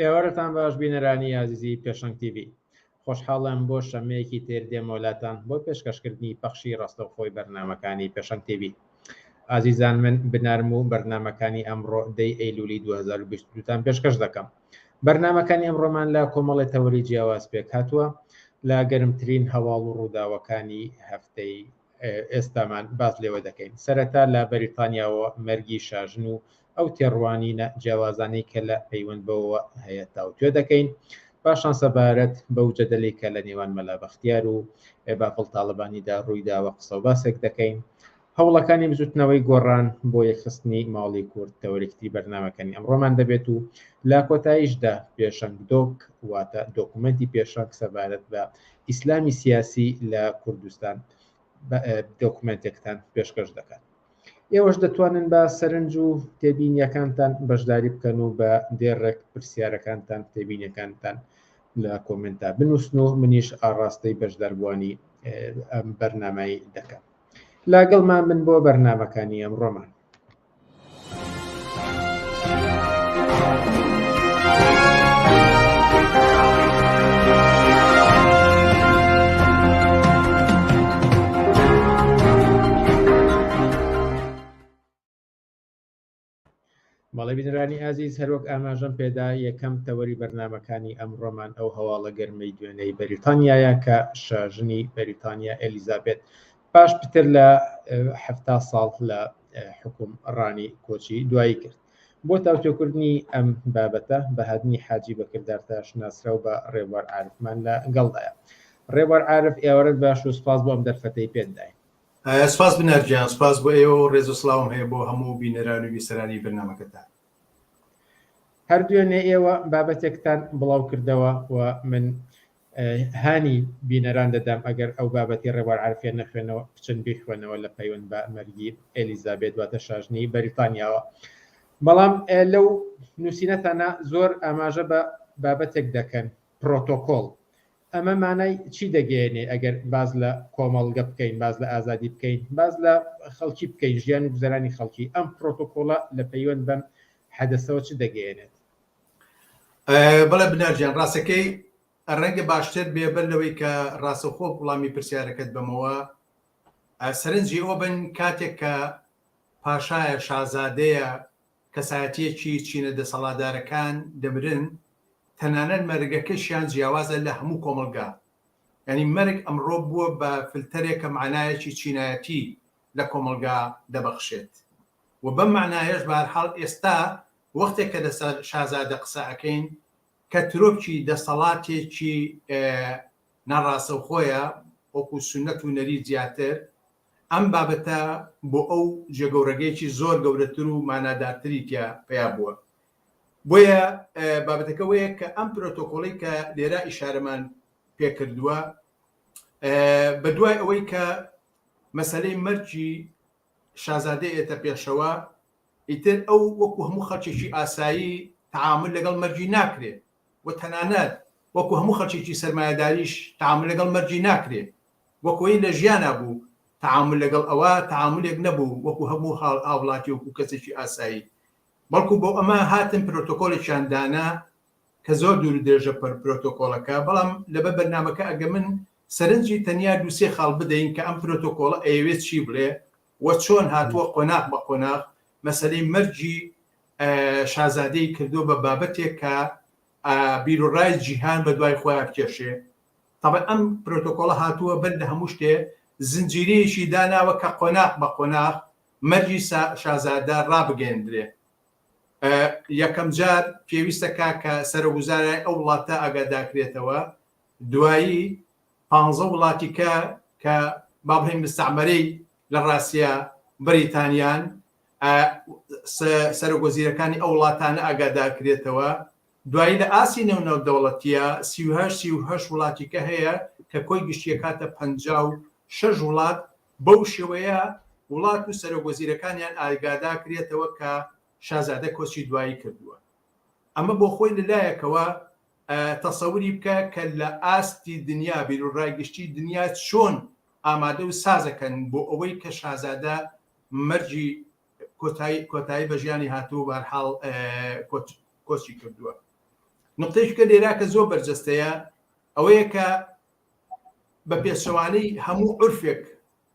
ئێوارەتان باش بینەرانی ئازیزی پێشەنگ تیڤی خۆشحاڵم بۆ شەمەیەکی تر دێمۆلاتان بۆ پێشکەشکردنی پەخشی ڕاستەوخۆی بەرنمەکانی پێشەنگ تیڤی ئازیزان من بنارم و بەرنمەکانی ئەمڕۆ دەی ئەیلولی 2022تان پێشکەش دەکەم بەرنمەکانی ئەمڕۆمان لە کۆمەڵی تەوەری جیاواز پێک هاتووە لە گەرمترین هەواڵ و ڕووداوەکانی هەفتەی ئێستامان باس لێوە دەکەین سەرەتا لە بەریتانیاوە مەرگی شاژن و ئەو تێڕوانینە جیاوازانەی کە لە پەیوەند بەوە هەیە تاوتوێ دەکەین پاشان سەبارەت بەو جەدەلەی کە لە نێوان مەلا بەختیار و بافڵ تاالبانیدا ڕوویداوە قسە و باسێک دەکەین هەوڵەکانی بزوتنەوەی گۆڕان بۆ یەکخستنی ماڵی کورد تەوەرێکتری بەرنمەکەنی ئەمڕۆمان دەبێت و لا کۆتاییشدا پێشەنگ دۆک واتە دۆکومنتی پێشەک سەبارەت بە ئیسلامی سیاسی لە کوردستان دۆکومێنتێکتان پێشکەش دەکات ئێوەش دەتوانن بە سەرنج و تێبینیەکانتان بەشداری بکەن و بە دێڕێک پرسیارەکانتان تێبینەکانتان لە کۆمنتا بنووسن و منیش ئاڕاستەی بەشداربووانی ئەم بەرنمایی دەکەم لاگەڵ ما من بۆ بەرنمەکانی ئەم ڕۆمان بەڵێ بینرانی ئازیز هەروەک ئاماژەم پێدا یەکەم تەوەری بەرنمەکانی ئەم ڕۆمان ئەو هەواڵە گەرمەی دوێنەی بەریتانیایە کە شاژنی بەریتانیا ئەلیزابێت پاش پتر لە حفتا ساڵ لە حکوم ڕانی کۆچی دوایی کرد بۆ تاوتۆکردنی ئەم بابەتە بەهادنی حاجی بەکردارتاش ناسراو بە ڕێبوار عارفمان لە گەڵدایە ڕێبوار عارف ئێوارەت باش و سپاس بۆ ئەم دەرفەتەی پێت داین سپاس بنەرگیان سپاس بۆ ئێوە و ڕێز و سلااوم هەیە بۆ هەموو بینەران و ویسەرانی بەرنمەکەتان هەردوێنێ ئێوە بابەتێکتان بڵاو کردەوە و من هانی بینەران دەدام ئەگەر ئەو بابەتی ڕێبوار عارفیان نەخوێنەوە بچن بیخوێنەوە لە پەیوەند بە مەرگی ئێلیزابێت واتە شاژنی بەریتانیاوە بەڵام لەو نووسینەتانە زۆر ئاماژە بە بابەتێک دەکەن پرۆتۆکۆل ئەمە مانای چی دەگەێنێ ئەگەر باز لە کۆمەڵگە بکەین باز لە ئازادی بکەین باز لە خەڵکی بکەین ژیان و گوزەرانی خەڵکی ئەم پرۆتۆکۆڵە لە پەیوەند بەم حەدەسەوە چ دەگەێنێت بەڵێ بنار گیان ڕاستەکەی ڕەنگە باشتر بێ بەر لەوەی کە ڕاستەخۆ وڵامی پرسیارەکەت بەمەوە سەرنجی ئەو بن کاتێک کە پاشایە شازادەیە کەسایەتیەکی چینە دەسەڵادارەکان دەمرن تەنانەت مەرگەکەشیان جیاوازە لە هەموو کۆمەلگا ینی مەرگ ئەمڕۆ بووە بە فلتەرێکە معناایەکی چینایەتی لە کۆمەلگا دەبەخشێت و بەم معناایش بارحاڵ ئێستا وەختێک کە لەسەر شازادە قسە ئەکەین کە ترۆپکی دەسەڵاتێکی ناڕاسەوخۆیە وەکو سونەت و نەریت زیاتر ئەم بابەتە بۆ ئەو جێگەورەگەیەکی زۆر گەورەتر و مانادارتری تیا پیا بووە بۆیە بابەتەکە وەیە کە ئەم پرۆتۆکۆڵی کە لێرا ئیشارەمان پێکردووە بە دوای ئەوەی کە مەسلەی مەرجی شازادە ئێتە پێشەوە ئیتر ئەو وەکو هەموو خەڵکێکی ئاسایی تەعامول لەگەڵ مەرگی ناکرێ و تەنانەت وەکو هەموو خەڵکێکی سەرمایەداریش تەعامول لەگەڵ مەرگی ناکرێ، وەکوەی لە ژیانا بوو تەعامول لەگەڵ ئەوە تەعامولێک نەبوو وەکو هەموو هاوڵاتی وەکو کەسێکی ئاسایی، بەڵکو بۆ ئەمە هاتن پرۆتۆکۆلێکیان دانا کە زۆر دوور و درێژە پرۆتۆکۆڵەکە، بەڵام لەبەر بەرنامەکە ئەگەمن سەرنجی تەنیا دوو سێ خاڵ بدەین کە ئەم پرۆتۆکۆڵە ئەیەوێ چی بڵێ، وە چۆن هاتووە قۆناغ بە قۆناغ مەسەلەی مەرگی شازادەی کردووە بە بابەتێک کە بیروڕای جیهان بە دوای خۆیان بکێشێ تەبەن ئەم پرۆتۆکۆڵە هاتووە بەر لە هەموو شتێ زنجیرەیەکی داناوە کە قۆناغ بە قۆناغ مەرگی شازادە ڕابگەێندرێ یەکەم جار پێویستەکە کە سەرۆگوزارای ئەو وڵاتە ئاگاداکرێتەوە دوایی پانزە وڵاتی کە کە با بڵێین مستەعمەرەی لە ڕاستیا بەریتانیان ئە سە سەرۆک وەزیرەکانی ئەو وڵاتانە ئاگادار کرێتەوە دوایی لە ئاستی نێو نێودەوڵەتیە سی و هەشت سی و هەشت وڵاتی کە هەیە کە کۆی گشتی ئەکاتە پەنجا و شەش وڵات بەو شێوەیە وڵات و سەرۆک وەزیرەکانیان ئاگادا کرێتەوە کە شازادە کۆچی دوایی کردووە ئەمە بۆ خۆی لە لایەکەوە تەسەوری بکە کە لە ئاستی دنیا بیروڕای گشتی دنیا چۆن ئامادە و سازەکەن بۆ ئەوەی کە شازادە مەرگی کۆتایی کۆتایی بە ژیانی هاتووە بە هەر حاڵ کۆچی کردووە نقطەیش کە لێرا کە زۆر بەرجەستەیە ئەوەیە کە بە پێچەوانەی هەموو عرفێک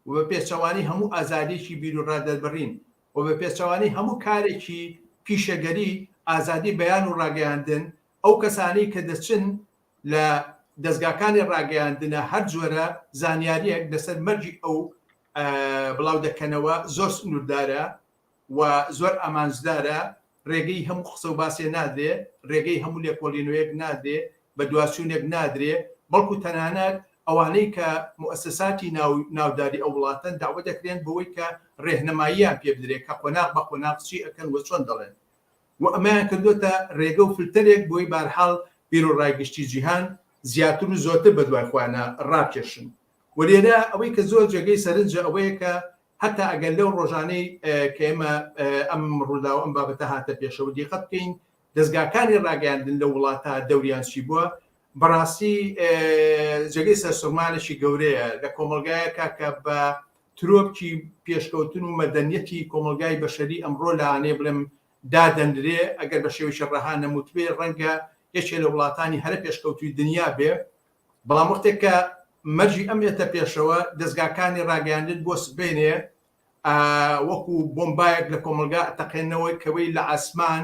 و بە پێچەوانەی هەموو ئازادێکی بیروڕا دەربڕین و بە پێچەوانەی هەموو کارێکی پیشەگەری ئازادی بەیان و ڕاگەیاندن ئەو کەسانەی کە دەچن لە دەزگاکانی ڕاگەیاندنە هەر جۆرە زانیاریەک لەسەر مەرگی ئەو بڵاو دەکەنەوە زۆر سنووردارە و زۆر ئامانجدارە ڕێگەی هەموو قسە و باسێ نادرێ ڕێگەی هەموو لێکۆڵینەوەیەک نادرێ بە دواچوونێک نادرێ بەڵکو تەنانەت ئەوانەی کە مؤسساتی ناوداری ئەو وڵاتەن داوە دەکرێن بەوەی کە ڕێهنماییان پێ بدرێت کە قۆناغ بە قۆناغچی ئەەکەن وە چۆن دەڵێن و ئەمەیان کردۆتە رێگە و فلتەرێک بۆی بارحاڵ بیرو رای گشتی جیهان زیاتر و زۆرتر بەدوای خۆیانا راکێشن و لێرە ئەوەی کە زۆر جێگەی سەرنجە ئەوەیە کە هەتا ئەگەر لەو رۆژانەی کە ئێمە ئەم روداو ئەم بابەتە هاتە پێشەوە دیقەت بکەین دەزگاکانی راگەیاندن لەو وڵاتە دەوریان چی بوە بەراستی جێگەی سەرسورمانێکی گەورەیە لە کۆمەڵگایەکە کە بە ترۆپکی پێشکەوتن و مەدەنیەتی کۆمەڵگای بەشەری ئەمڕۆ لەانێ بڵێم دادەنرێ، ئەگەر بە شێوەیەکی ڕەها نەموتبێ ڕەنگە یەکێ لە وڵاتانی هەرە پێشکەوتووی دنیا بێ، بەڵام وەختێ کە مەرجی ئەم یەتە پێشەوە، دەزگاکانی ڕاگەیاندن بۆ سبەینێ وەکوو بۆمبایەک لە کۆمەڵگا ئەتەقێنەوە کەوەی لە عاسمان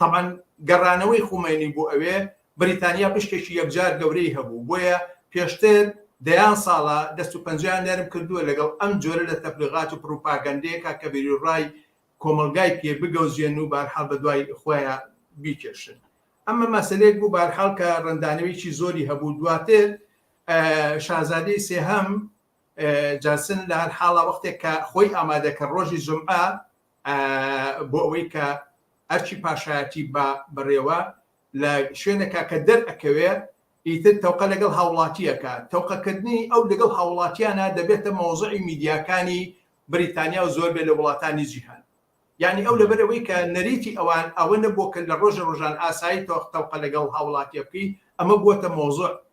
تەبعەن گەڕانەوەی خومەینی بۆ ئەوێ، بریتانیا پشکێکی یەکجار گەورەی هەبوو، بۆیە پێشتر دەیان ساڵە دەست و پەنجەیان نەرم کردووە لەگەڵ ئەم جۆرە لە تەبلیغات و پڕوپاگەندەیەکا کە بیروڕای کۆمەڵگای پێ بگەوجێن و بەهەرحاڵ بە دوای خۆیا بیکێشن. ئەمە مەسەلەیەک بوو بەهەرحاڵ کە ڕەندانەوێکی زۆری هەبوو. دواتر شازادەی سێهەم جانسن لە هەر حاڵا وەختێک کە خۆی ئامادە کە ڕۆژی جومعە، بۆ ئەوەی کە ئەرکی پاشایەتی با بەڕێوە لە شوێنەکە کە دەرئەکەوێ ئیتر تەوقە لەگەڵ هاوڵاتیەکە تەوقەکردنی ئەو لەگەڵ هاوڵاتیانە دەبێتە مەوزعی میدیاکانی بریتانیا و زۆر بێ لە وڵاتانی جیهان یعنی ئەو لەبەرەوەی کە نەریتی ئەوان ئەوە نەبووە کە لە ڕۆژە ڕۆژان ئاسایی تۆخ تەوقە لەگەڵ هاوڵاتیە بکەی ئەمە بووەتە مەوزوع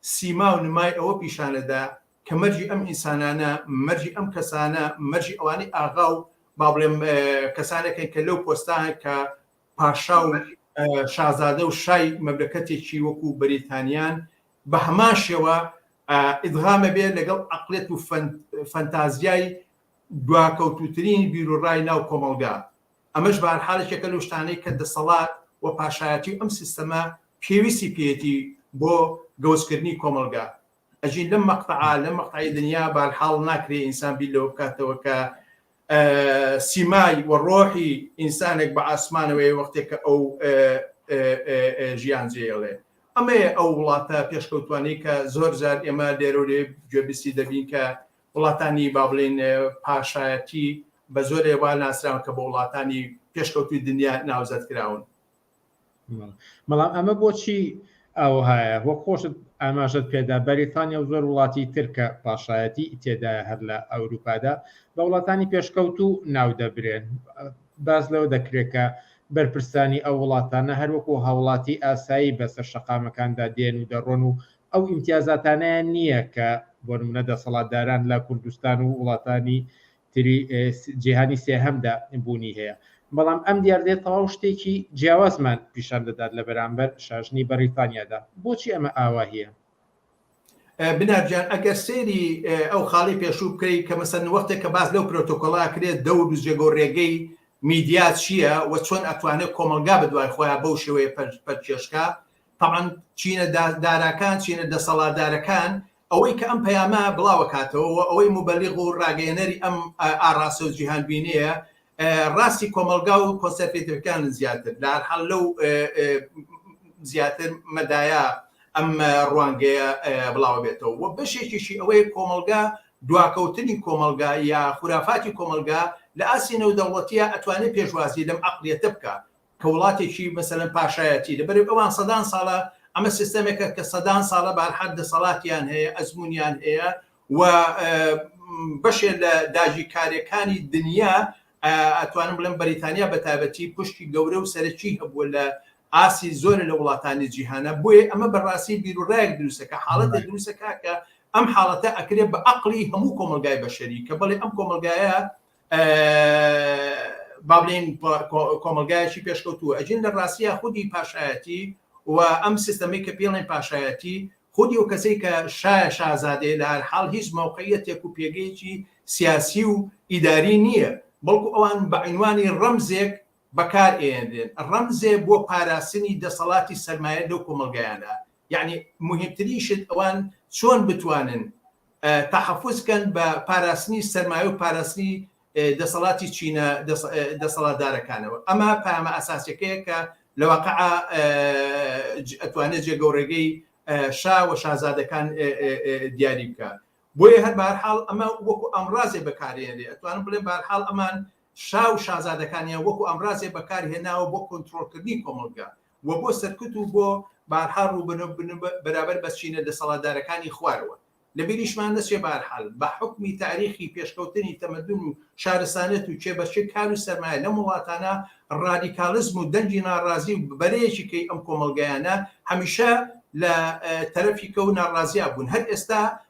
سیما و نمای ئەوە پیشانەدا کە مەرجی ئەم ئینسانانە، مەرجی ئەم کەسانە، مەرجی ئەوانەی ئاغا و با بڵێم کەسانەکەن کە لەو پۆستانەن کە پاشا و شازادە و شای مەملەکەتێکی وەکوو بەریتانیان بە هەمان شێوە ئیدغامە بێ لەگەڵ عەقڵێت و فەنتازیای دواکەوتووترین بیروڕای ناو کۆمەڵگا. ئەمەش بەهەرحاڵ یەکێکە لەو شتانەی کە دەسەڵات و پاشایەتی و ئەم سیستەمە پێویستی پێیەتی بۆ گەوجکردنی کۆمەڵگا. ئەژین لەم مەقتەعە لەم مەقتەعی دنیا بەهەرحاڵ ناکرێ ئینسان بیر لەوە بکاتەوە کە سیمای و ڕۆحی ئینسانێک بە ئاسمانەوەی وەختێک کە ئەو ژیان جێڵێ ئەمەیە ئەو وڵاتە پێشکەوتوانی کە زۆر زار ئێمە لێرە لێ گوێبیستی دەبین کە وڵاتانی با بڵێین پاشایەتی بە زۆرێ وا ناسراون کە بە وڵاتانی پێشکەوتووی دنیا ناوزەد کراون. بەڵام ئەمە بۆچی ئاوەهایە؟ وەک خۆشت ئاماژەت پێدا بەریتانیا و زۆر وڵاتی تر کە پاشایەتی تێدایە هەر لە ئەوروپادا بە وڵاتانی پێشکەوتوو ناو دەبرێن. باس لەوە دەکرێت کە بەرپرسانی ئەو وڵاتانە هەروەکو هاوڵاتی ئاسایی بەسەر شەقامەکاندا دێن و دەڕۆن و ئەو ئیمتیازاتانەیان نییە کە بۆ نمونە دەسەڵاتداران لە کوردستان و وڵاتانی تری جیهانی سێهەمدا بوونی هەیە بەڵام ئەم دیاردەیە تەواو شتێکی جیاوازمان پیشان دەدات لە بەرامبەر شاژنی بەریتانیادا بۆچی ئەمە ئاواهەیە بنارجان ئەگەر سێری ئەو خاڵی پێشوو بکەیت کە مەسەن وەختێک کە باز لەو پرۆتۆکۆلا کرێت دەور و جێگە و ڕێگەی میدیا چییە و چۆن ئەتوانێت کۆمەلگا بە دوای خۆیان بەو شێوەیە پەرچێشکە تەبعەن چینە داراکان چینە دەسەڵاتدارەکان ئەوەی کە ئەم پەیامە بڵاوەکاتەوە و ئەوەی موبەلیغ و ڕاگەیەنەری ئەم ئاڕاستە و جیهانبینەیە ڕاستی کۆمەلگا و کۆنسەرفیترکان زیاتر لە هەرحال لەو زیاتر مەدایە ئەم ڕوانگەیە بڵاوە بێتەوە و بەشێکیشی ئەوەیە کۆمەلگا دواکەوتنی کۆمەلگا یا خورافاتی کۆمەلگا لە ئاسی نەودەوڵەتیە ئەتوانێت پێشوازی لەم عقلیەتە بکە کە وڵاتێکی مەسەلەن پاشایەتی لەبەرئ ئەوان سەدان ساڵە ئەمە سیستەمێکە کە سەدان ساڵە بارحەد دەسەڵاتیان هەیە ئەزمونیان هەیە و بەشێ لە داگیرکاریەکانی دنیا ئەتوانم بڵێم بەریتانیا بە تایبەتی پشتی گەورە و سەرەکی هەبووە لە ئاسی زۆر لە وڵاتانی جیهانە بۆیە ئەمە بەڕاستی بیرورایەک دروستەکە حاڵەتە دروستەکە کە ئەم حاڵەتە ئەکرێت بە عقلی هەموو کۆمەلگای بەشەری کە بڵێ ئەم کۆمەلگایە بابلین کۆمەلگایەکی پێشکەوتووە ئەجین لە ڕاستە خودی پاشایەتی و ئەم سیستەمی کە پێڵێن پاشایەتی خودی و کەسەی کە شایە شازادەیە لە هەر حاڵ هیچ مووقعە تێک و پێگەیەکی سیاسی و ئیداری نییە بەڵکو ئەوان بەعینوانی ڕەمزێک بەکارئەیەنرێن ڕەمزێ بۆ پاراستنی دەسەڵاتی سەرمایە لەو کۆمەڵگایانە یەعنی موهیمترین شت ئەوان چۆن بتوانن تەحەفوز کەن بە پاراستنی سەرمایە و پاراستنی دەسەڵاتی چینە دەسەڵاتدارەکانەوە ئەمە پامە ئەساسەکەیە کە لە واقع ئەتوانێت جێگەوڕێگەی شا و شازادەکان دیاری بکە بۆیە هەر بارحاڵ ئەمە وەکو ئەمڕازێ بەکارێنێ ئەتوانم بڵێ بارحاڵ ئەمان شا و شازادەکانیان وەکو ئامرازێ بەکار هێناوە بۆ کۆنترۆڵ کردنی کۆمەڵگا و بۆ سەرکوت و بۆ بارها رووبەنە بن بەرابەر بە چینە دەسەڵاتدارەکانی خوارەوە. لە بیریشمان نەچێ بەهەرحال بە حوکمی تاریخی پێشکەوتنی تەمەدون و شارستانەت و کێبەرکێ کار و سەرمایە لەم وڵاتانە رادیکالیزم و دەنگی ناڕازی و بەرەیەکی کەی ئەم کۆمەڵگایانە هەمیشە لە تەرەفیکە و ناڕازیا بوون هەر ئێستا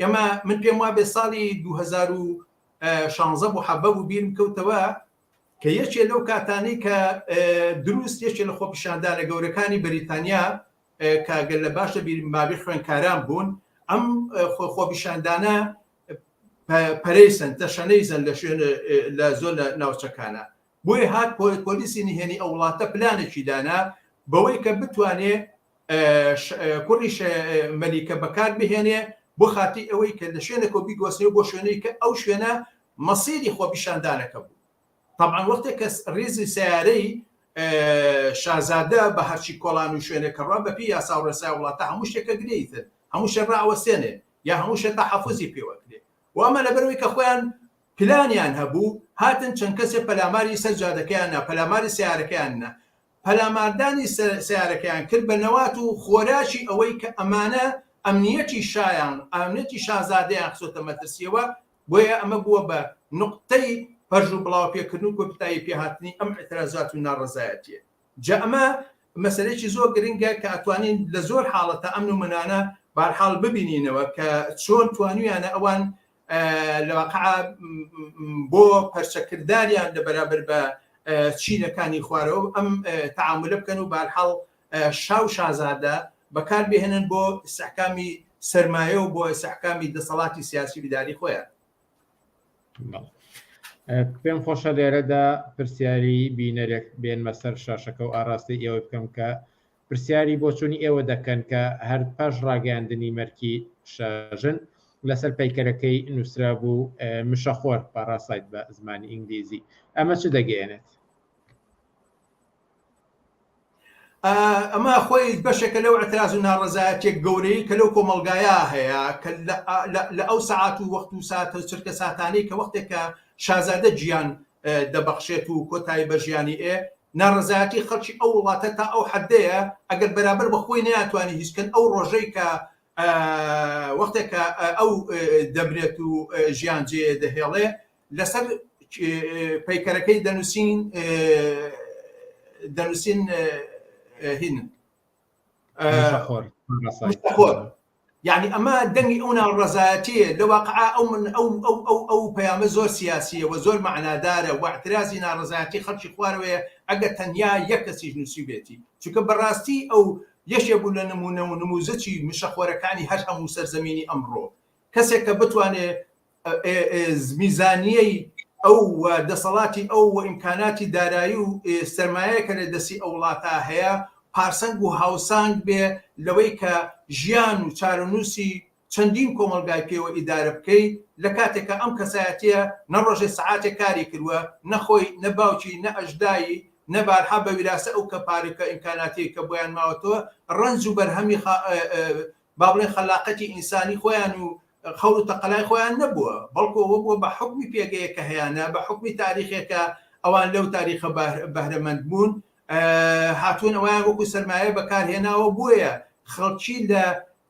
ئێمە من پێم وا بێ ساڵی 2016 بوو حەڤە بوو بیرم کەوتەوە کە یەکێ لەو کاتانی کە دروست یەکێ لە خۆپیشاندانە گەورەکانی بەریتانیا کاگەل لە باشە بیرم بابی خوێنکاران بوون ئەم خۆپیشاندانە پەرەیسن تەشەنەیزن لە شوێن لە زۆر لە ناوچەکانە بۆیە هات پۆلیسی نهێنی ئەو وڵاتە پلانێکی دانا بەوەی کە بتوانێ کوڕی مەلیکە بەکار بهێنێ بۆ خاتی ئەوەی کە لە شوێنەکە بیگۆسنێ بۆ شوێنەی کە ئەو شوێنە مەسیری خۆپیشاندانەکە بوو طبعا وەختێک کە ریزی سیارەی شازادە بە هەرچی کۆڵان و شوێنێک کەڕا بەپی یاسا و ڕێسای وڵاتە هەموو شتێکە گرێیتر هەموو شێ ڕاوەستێنێ یا هەموو شێ تا حەفوزی پێوەکرێ وامە لەبەرەوەی کە خۆیان پلانیان هەبوو هاتن چەند کەسێ پەلاماری سەر جادەکەیان نا پەلاماری سەیارەکەیان نا پەلاماردانی سەیارەکەیان کرد بە نەوات و خۆراکی ئەوەی کە ئەمانە ئەمنیەتی شایان ئەمنیەتی شازادەیان خستۆتە مەترسیەوە بۆیە ئەمە بووە بە نوقتەی پەرژ و بڵاو پێکردن و کۆپتایی پێهاتنی ئەم ئیترازات و ناڕەزایەتیە جا ئەمە مەسەلەیەکی زۆر گرنگە کە ئەتوانین لە زۆر حاڵەتە ئەم نمونانە بارحاڵ ببینینەوە کە چۆن توانویانە ئەوان لە واقع بۆ پەرچەکرداریان لە بەرابەر بە چینەکانی خوارەوە ئەم تعاملە بکەن و بارحاڵ شاو شازادە بەکار بهێنن بۆ سەحکامی سرمایە و بۆ سەحکامی دەسەڵاتی سیاسی بداری خۆیان پێم خۆشە لێرەدا پرسیاری بینەرێک بێنمە سەر شاشەکە و ئاراستەی ئێوە بکەم کە پرسیاری بۆچوونی ئێوە دەکەن کە هەر پاش ڕاگەیاندنی مەرکی شاژن لەسەر پەیکەرەکەی نووسرابوو مشەخۆر پاڕاسایت بە زمانی ئینگلیزی ئەمە چ دەگەیەنێت؟ ئەمە خۆی بەشێکە لەو ئەتراز و ناڕزایەتێک گەورەی کە لەو کۆمەلگایە هەیە کە لە ئەو سەعات و وەخت و ساتە چرکە ساتانەی کە وەختێکە شازادە جیان دەبەخشێت و کۆتایی بە ژیانی ئێ ناڕەزایەتی خەڵکی ئەو وڵاتە تا ئەو حەدەیە ئەگەر بەرابەر بە خۆی نەیاتوانی هیچ کەن ئەو ڕۆژەی کە وەختێک کە ئەو دەبرێت و ژیان جێ دەهێڵێ لەسەر پەیکەرەکەی دەنووسین دەنووسین هینن یعنی ئەمە دەنگی ئەو ناڕەزایەتیە لە واقع ئەو من ئەو ئەو ئەو ئەو پەیامە زۆر سیاسیە و زۆر معنادارە واعترازی ناڕزایەتی خەڵکی خوارەوەیە ئەگە تەنیا یەک کەسیش نووسی بێتی چونکە بەڕاستی ئەو یەشێ بوو لە نمونە و نموزەچی مشەخۆرەکانی هەر هەموو سەرزەمینی ئەمڕۆ کەسێک کە بتوانێ میزانیەی ئەو و دەسەڵاتی ئەو و ئیمکاناتی دارایی و سەرمایەیە کە لە دەستی ئەو وڵاتە هەیە پارسەنگ و هاوسانگ بێ لەوەی کە ژیان و چارەنووسی چەندین کۆمەڵگای پێوە ئیدارە بکەی لە کاتێک کە ئەم کەسایەتیە نە ڕۆژێ سەعاتێ کاری کردوە نە خۆی نە باوکی نە ئەژدایی نە بارها بە ویراسە ئەو کە پارە کە ئیمکاناتیەی کە بۆیان ماوەتەوە ڕەنج و بەرهەمی با بڵێین خەلاقەتی ئینسانی خۆیان و خەور و تەقەلای خۆیان نەبووە، بەڵکو ئەوە بووە بە حوکمی پێگەیەک کە هەیانە، بە حوکمی تاریخێک کە ئەوان لەو تاریخە بەهرەمەند بوون، هاتوون ئەویان وەکو سەرمایە بەکارهێناوە، بۆیە خەڵکی لە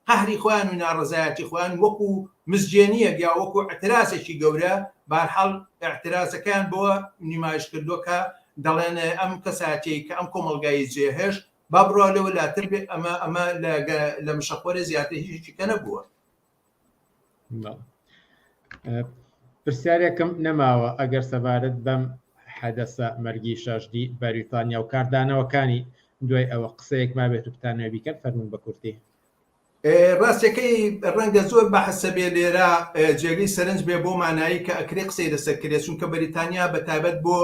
قەهری خۆیان و ناڕەزایەتی خۆیان وەکو مزجێنییەک یا وەکو ئیعترازێکی گەورە، بە هەر حاڵ ئیعترازەکەیان بەوە نمایش کردووە کە دەڵێن ئەم کەسایەتییەی کە ئەم کۆمەڵگای جێهێشت، با بڕوا لەوە لاتر بێ ئەمە ئەمە لە مشەخۆرە زیاتر هیچی کە نەبووە پرسیارێکم نەماوە ئەگەر سەبارەت بەم حەدەسە مەرگی شەژدی بەریتانیا و کاردانەوەکانی دوای ئەوە قسەیەک ما بێت و بتانە بیکەن فەرمون بە کورتی ڕاستەکەی ڕەنگە زۆر بە حەسەبێ لێرە جێگەی سەرنج بێ بۆ مانایی کە ئەکرێ قسەی لەسەر کرێ چونکە بەریتانیا بە تابەت بۆ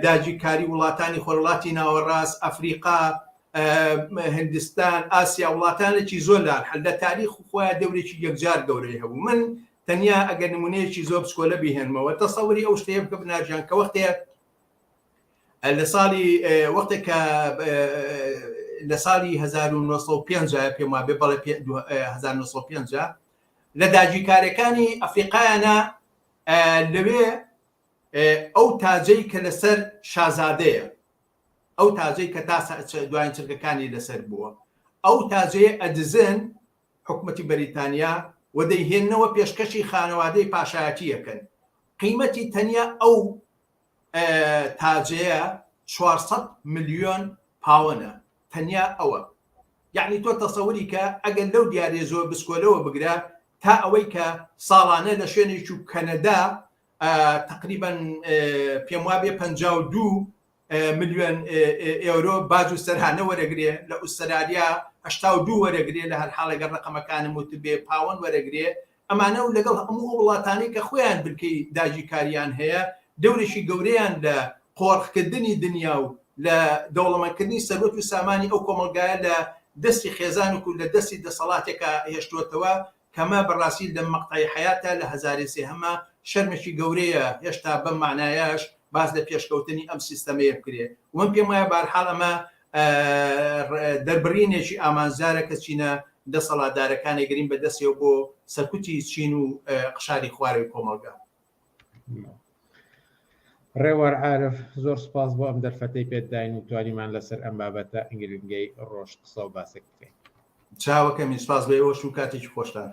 داگیرکاری وڵاتانی خۆرهەڵاتی ناوەڕاست، ئەفریقا، هندستان، ئاسیا، وڵاتانێکی زۆر لان هەن لە تاریخ خۆیان دەورێکی یەکجار گەورەی هەبوو. من تەنیا ئەگەر نمونەیەکی زۆر بچکۆلە بیهێنمەوە تەسەوری ئەو شتەیە بکە بناژیان کە وەختێ لە ساڵی وەختێک کە لە ساڵی 1950 پێم وابێ بەڵێ 1950 لە داگیرکارەکانی ئەفریقایانە لەوێ ئەو تاجەی کە لەسەر شازادەیە، ئەو تاجەی کە تا دوایین چرکەکانی لەسەر بووە، ئەو تاجەی ئەدزن حکومەتی بەریتانیا و دەیهێننەوە پێشکەشی خانەوادەی پاشایەتی ئەکەن، قیمەتی تەنیا ئەو تاجەیە چوار سەد ملیۆن پاوەنە، تەنیا ئەوە، یەعنی تۆ تەسەوری کە ئەگەر لەو دیاریە زۆر بچکۆلەوە بگرە تا ئەوەی کە ساڵانە لە شوێنێکی و کەنەدا تەقریبەن پێم وابێ پەنجا و دوو ملیۆن ئێورۆ باج و سەرانە وەرەگرێ لە ئوسترالیا هەشتا و دوو وەرەگرێ لە هەر حاڵێگە ڕقەمەکانم وت بێ پاوەن وەرەگرێ ئەمانە و لەگەڵ هەموو وڵاتانی کە خۆیان بنکەی داگیرکاریان هەیە دەورێکی گەورەیان لە قۆرخکردنی دنیا و لە دەوڵەمەندکردنی سەروەت و سامانی ئەو کۆمەڵگایە لە دەستی خێزانێک و لە دەستی دەسەڵاتێکە هێشتووەتەوە کەمە بەڕاستی لەم مەقتەعی حەیاتە لە هەزارێ سێهەمە شەرمێکی گەورەیە هێشتا بەم مەعنایەش باس لە پێشکەوتنی ئەم سیستەمەیە بکرێ ومن پێم وایە بارحاڵ ئەمە دەربڕینێکی ئامانجدارە کە چینە دەسەڵاتدارەکانێگرین بە دەستێ بۆ سەرکوتی چین و قشاری خوارەوی کۆمەڵگە. ڕێوار عارف زۆر سپاس بۆ ئەم دەرفەتەی پێت داین و توانیمان لەسەر ئەم بابەتە گرنگەی ڕۆژ قسە و باسێک بکەین چاوەکەمی سپاس بۆ ئێوەش و کاتێکی خۆشتان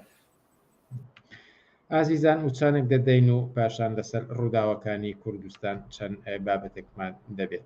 ئازیزان وچانێک دەدەین و پاشان لەسەر ڕووداوەکانی کوردستان چەند بابەتێکمان دەبێت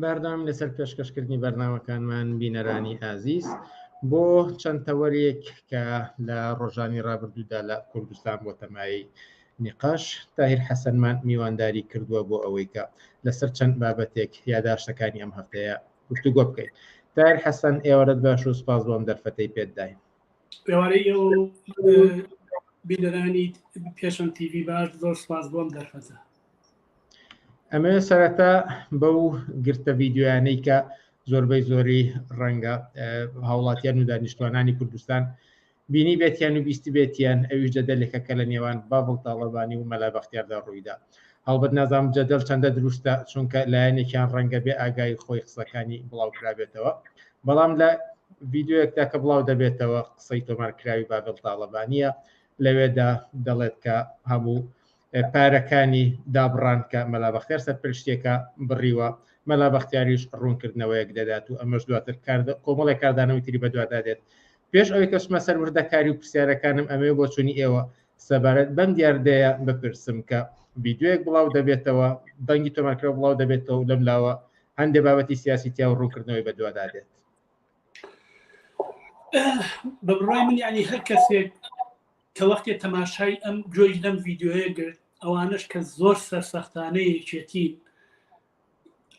بەردەوام لەسەر پێشکەشکردنی بەرنامەکانمان بینەرانی ئازیز بۆ چەند تەوەرێک کە لە ڕۆژانی ڕابردوودا لە کوردستان بۆ تەمایی نقاش تاهیر حەسەنمان میوانداری کردووە بۆ ئەوەی کە لەسەر چەند بابەتێک یاداشتەکانی ئەم هەفتەیە گفتوگۆ بکەیت تایر حەسەن ئێوەرەت باش و سپاس بۆم دەرفەتەی پێتدای پێوارەی ئەو بینەرانی پێشم تیوی باش زۆر سپاس بۆم دەرفەتە ئەمە سەرەتا بەو گرتە ڤیددیویانەی کە زۆربەی زۆری ڕەنگە هاوڵاتیان و دانیشتوانانی کوردستان بینی بێتیان و بیستی بێتیان ئەویش جەدەلێکە کە لە نێوان بابڵ تاڵەبانی و مەلابختیاردا ڕوویدا هەڵبەت نازام جەدەل چەندە دروستە چونکە لایەنێکیان ڕەنگە بێ ئاگایی خۆی قسەکانی بڵاوکرابێتەوە بەڵام لە ڤیددیوەکدا کە بڵاو دەبێتەوە قسەی تۆمارکراوی بابل تاالبانە لەوێدا دەڵێت کە هەموو پارەکانی دابڕان کە مەلا بەختیار سەرپەرشتیەکە بڕیوە، مەلا بەختیاریش ڕوونکردنەوەیەک دەدات و ئەمەش دواتر کۆمەڵێک کاردانەوەی تری بەدوادا دێت. پێش ئەوەی کەچمە سەر وردەکاری و پرسیارەکانم ئەمەوێ بۆچوونی ئێوە سەبارەت بەم دیاردەیە بپرسم کە ڤیدیۆیەک بڵاو دەبێتەوە، دەنگی تۆمارکراو بڵاو دەبێتەوە و لەم لاوە هەندێ بابەتی سیاسی تیا و ڕوونکردنەوەی بەدوادا دێت. بە بڕای من یعنی هەر کەسێک کە وەختێ تەماشای ئەم گوێی لەم ڤیددیوەیە گرت ئەوانش کە زۆر سەرسەختانە یەکێتین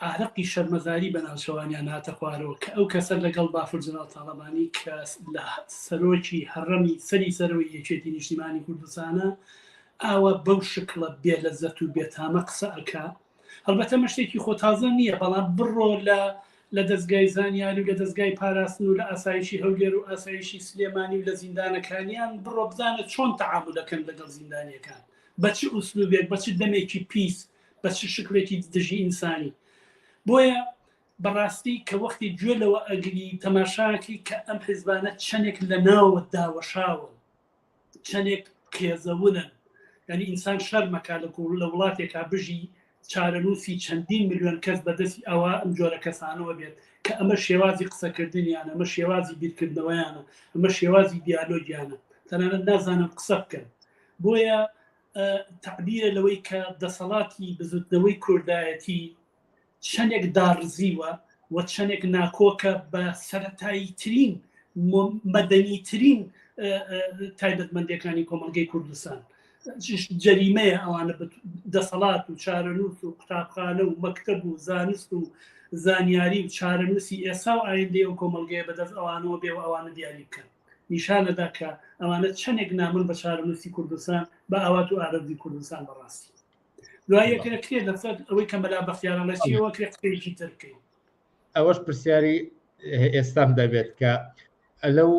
ئارەقی شەرمەزاری بە ناوچەوانیان هاتە خوارەوە کە ئەو کەسە لەگەڵ بافرجناڵ تاڵەبانی کە لە سەرۆکی هەڕەمی سەری سەرەوەی یەکێتی نیشتیمانی کوردستانە ئاوا بەو شکڵە بێ لە زەت و بێتامە قسە ئەک هەڵبەتە ئەمە شتێکی خۆ تازە نییە، بەڵام بڕۆ لە لە دەزگای زانیاری و لە دەزگای پاراستن و لە ئاسایشی هەولێر و ئاسایشی سلێمانی و لە زیندانەکانیان بڕۆ بزانە چۆن تەعامول دەکەن لەگەڵ زیندانیەکان بە چ ئوسلوبێک بە چ دەمێکی پیس بە چ شکلێکی دژی ئینسانی بۆیە بەڕاستی کە وەختی گوێ لەوە ئەگری تەماشاکی کە ئەم حیزبانە چەندێک لە ناوە داوەشاون چەنێک قێزەونن یانی ئینسان شەرمەکا لە کوڵ لە وڵاتێکا بژی چارەنووسی چەندین ملیۆن کەس بەدەستی ئەوە ئەم جۆرە کەسانەوە بێت کە ئەمە شێوازی قسەکردنیان ئەمە شێوازی بیرکردنەوەیانە ئەمە شێوازی دیالۆگیانە تەنانەت نازانم قسە بکەن بۆیە تعبیرە لەوەی کە دەسەڵاتی بزوتنەوەی کوردایەتی چەندێک داڕزیوە و چەندێک ناکۆکە بە سەتایی ترین مەدەنی ترین تایبەتمەندەکانی کۆمەلگەی کوردستان جەریمەیە ئەوانە دەسەڵات و چارەنووس و قوتابخانە و مەکتب و زانست و زانیاری و چارەنووسی ئێسا و ئایندەیە و کۆمەلگەیە بەدەست ئەوانەوە بێ و ئەوانە دیاری بکەن نیشانەدا کە ئەوانە چەندێک نامن بە چارەنووسی کوردستان بە ئاوات و ئارەزی کوردستان بەڕاستی ئەوەش پرسیاری ئێستام دەبێت کە لەو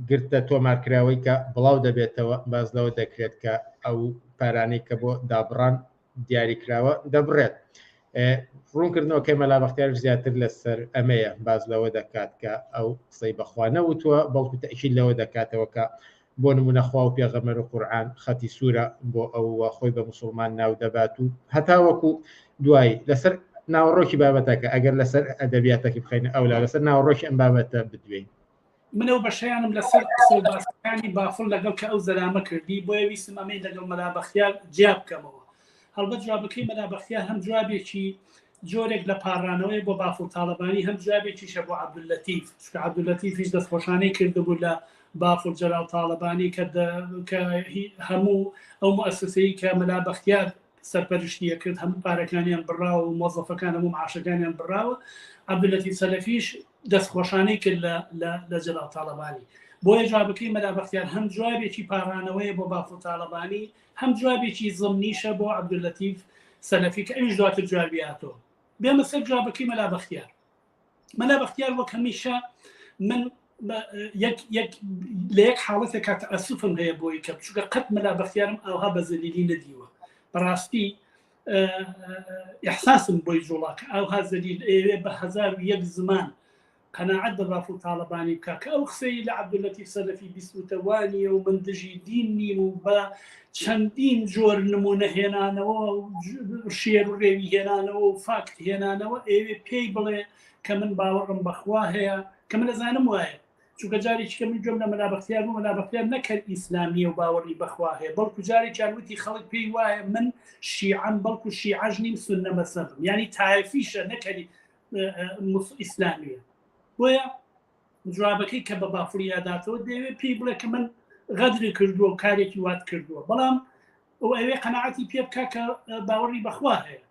گرتە تۆمارکراوەی کە بڵاو دەبێتەوە باز لەوە دەکرێت کە ئەو پارانەی کە بۆ دابڕان دیاریکراوە دەبڕێت ڕوونکردنەوەکەی مەلابختیار زیاتر لەسەر ئەمەیە باز لەوە دەکات کە ئەو قسەی بەخوا نەوتوە بەڵکو تەکی لەوە دەکاتەوە کە بۆ نمونە خوا و پێغەمبەر و قورعان خەتی سورە بۆ ئەو و خۆی بە موسوڵمان ناو دەبات و هەتاوەکو دوایی لەسەر ناوەڕۆکی بابەتەکە ئەگەر لەسەر ئەدەبیاتەکی بخەینە ئەولا لەسەر ناوەڕۆکی ئەم بابەتە بدوێین. من ئەو بەشەیانم لەسەر قسەو باسەکانی بافڵ لەگەڵ کە ئەو زەلامە کردی بۆیە ویستم ئەمەی لەگەڵ مەلا بەختیار جیا بکەمەوە هەڵبەت جوابەکەی مەلا بەختیار هەم جوابێکی جۆرێک لە پاڕانەوەیە بۆ بافڵ تاڵەبانی هەم جوابێکیشە بۆ عەبدوللەتیف چونکە عەبدوللەتیفیش دەستخۆشانەی کردبوو لە بافڵ جەلال تاڵەبانی کە هەموو ئەو موسسەی کە مەلا بەختیار سەرپەرشتیە کرد هەموو پارەکانیان بڕاوە و مۆزەفەکان هەموو عاشەکانیان بڕاوە عەبدولەتی سەلەفیش دەستخۆشانەی کرد لە جەلال تاڵەبانی بۆیە جوابەکەی مەلا بەختیار هەم جوابێکی پاڕانەوەیە بۆ بافڵ تاڵەبانی هەم جوابێکی زمنیشە بۆ عبداللطیف سەلەفی کە ئەویش دواتر جوابی هاتەوە بێمە سەر جوابەکەی مەلا بەختیار مەلا بەختیار وەک هەمیشە من لە یەک حاڵەتێک کاتە ئەسوفم هەیە بۆی کە بچووکە قەت مەلا بەختیارم ئاها بە زەلیلی نەدیوە بەڕاستی احساسم بۆی جوڵاکە ئاها زەلیل ئێوێ بە هزار و یەک زمان قەناعەت بە بافڵ تاڵەبانی بکە کە ئەو قسەی لە عەبدولەتیف سەلەفی بیستووتە وا نییە و من دژی دین نیم و بە چەندین جۆر نمونە هێنانەوە شێر و رێوی هێنانەوە و فاکت هێنانەوە ئێوێ پێی بڵێ کە من باوەڕم بەخوا هەیە کە من لەزانم وایە چونکە جارێکی کە من گوێم لە مەلابەختیار بوو مەلابەختیار نەکرد ئیسلامیە و باوەڕی بەخوا هەیە بەڵکو جارێکیان وتی خەڵک پێی وایە من شیعەم بەڵکو شیعەژ نیم سنە مەسەبم ینی تایفیشە نەکەری ئیسلامیە بۆیە جوابەکەی کە بە بافریاداتەوە دەوێت پێی بڵێ کە من غەدری کردووە و کارێکی وات کردووە بەڵام ئەو ئەوێ قەنەعەتی پێ بکە کە باوەڕی بەخوا هەیە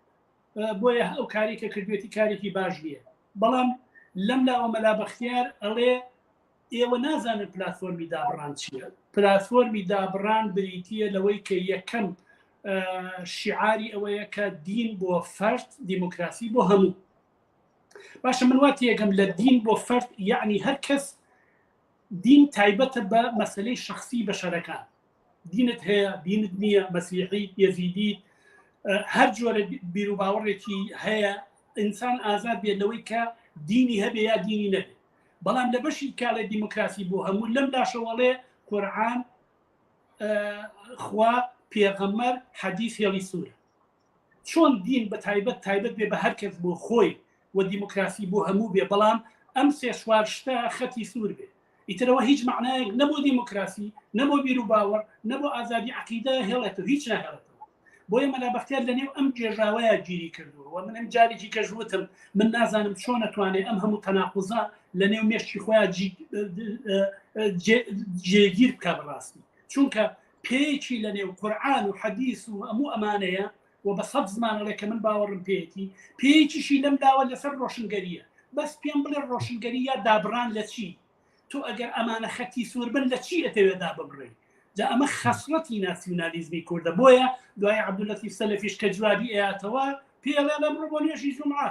بۆیە ئەو کارێکە کردوێتی کارێکی باش نییە بەڵام لەم لاوە مەلا بەختیار ئەڵێ ئێوە نازانن پلتفۆرمی دابڕان چییە پلتفۆرمی دابڕان بریتە لەوەی کە یەکەم شیعاری ئەوەیە کە دین بۆ فەرد دیموکراسی بۆ هەموو باشە من وات یەکەم لە دین بۆ فەرد یعنی هەر کەس دین تایبەتە بە مەسلەی شخصی بەشەرەکان دینت هەیە دینت نییە مەسیحی یزیدی هەر جۆرە بیرو باوەڕێکی هەیە ئینسان ئازاد بێت لەوەی کە دینی هەبێ یا دینی نەبێت بەڵام لە بەشی کاڵی دیموکراسی بۆ هەموو لەم لاشەوەڵێ قورعان خوا پێغەمەر حەدیث هێڵی سوورە چۆن دین بە تایبەت تایبەت بێ بە هەر کەس بۆ خۆی و دیموکراسی بۆ هەموو بێ بەڵام ئەم سێ شوار شتە خەتی سوور بێ ئیترەوە هیچ معنایەک نەبوو دیموکراسی نەبوو بیر و باوەڕ نەبوو ئازادی عقیدە هێڵێتەوە هیچ ناهێڵێتەوە بۆیە مەلا بەختیار لە نێو ئەم گێژاوەیە گیری کردووە و من ئەم جارێکی کەژوتم من نازانم چۆن نتوانێت ئەم هەموو تەناقوزە لە نێو مێشتی خۆیان جێگیر بکە بڕاستی چونکە پێیەکی لە نێو قورآان و حەدیس و هەموو ئەمانەیە و بە سەد زمانەڵێ کە من باوەڕم پێێتی پێیەکیشی لەم داوە لەسەر ڕۆشنگەریە بەس پێم بڵێ ڕۆشنگەری یا دابران لە چی تۆ ئەگەر ئەمانە خەتی سوور بن لە چی ئەتەوێ دا ببڕی جا ئەمە خەسڵەتی ناسیونالیزمی کوردە بۆیە دوای عبدولەتی سەلفیش کە جوابی ئەیاتەوە پێڵێ لە بڕۆ بۆ نوێژی جمعە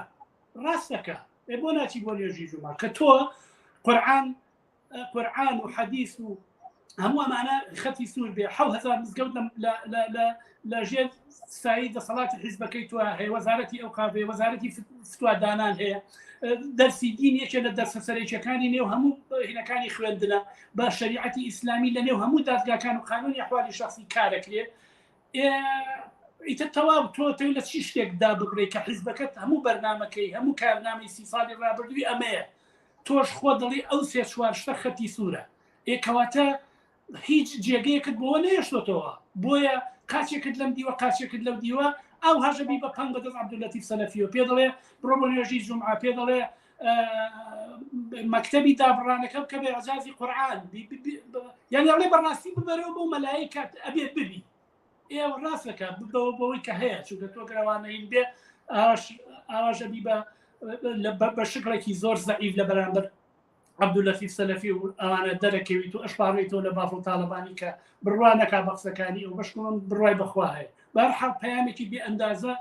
ڕاستەکە ئێ بۆ ناچی بۆ نوێژی جمعە کە تۆ قورآن قورآن و حەدیث و هەموو ئەمانە خەتی سوور بێ هزار مزگەوت لە ژێر سایی دەسەڵاتی حیزبەکەی تو هەیە وەزارەتی ئەو قاێ وەزارەتی فتوادانان هەیە دەرسی دین یەکێ لە دەرسە سەرێکەکانی نێو هەموو هینەکانی خوێندنە بە شریعەتی ئیسلامی لە نێو هەموو دادگاکان و قانونی حوالی شخصی کارەکرێت ئیتە تەواو تۆ تۆ لە چی شتێکدا بگرێ کە حیزبەکەت هەموو بەرنمەکەی هەموو کارنامەی سی ساڵی ڕابردووی ئەمەیە تۆش خۆ دڵی ئەو سێ چوارشتە خەتی سوورە ئێ کەواتە هیچ جێگەیەکت بۆ نەهێشتۆتەوە بۆیە قاچێکت لەم دیوە قاچێکت لەو دیوە ئەو هەژەبی بە پنگ بەدەست عبدولەتی سەلەفیۆ پێ دەڵێ بڕۆ بۆ نوێژی جمعە پێ دەڵێ مەکتتەبی دابڕانەکە بکە بێ عزازی قورآان یعنی ئەڵێ بەڕاستی ببەرەوە بۆ مەلایی کات ئەبێت ببی ئێوە ڕاستەکە بەوە بەوەی کە هەیە چونکە تۆ گەروانەین بێ ئاواژەبی بە بە شکڵێکی زۆر زەعیف لە بەرامبەر عبداللەتیف سەلەفی و ئەوانە دەرەکەویت و ئەشپاڕی تۆ لە بافڵ تاالبانی کە بڕوا نەکا بە قسەکانی ئەو بەشکم بڕای بەخوا هەیە بەرحا پامێکی بێ ئەندازە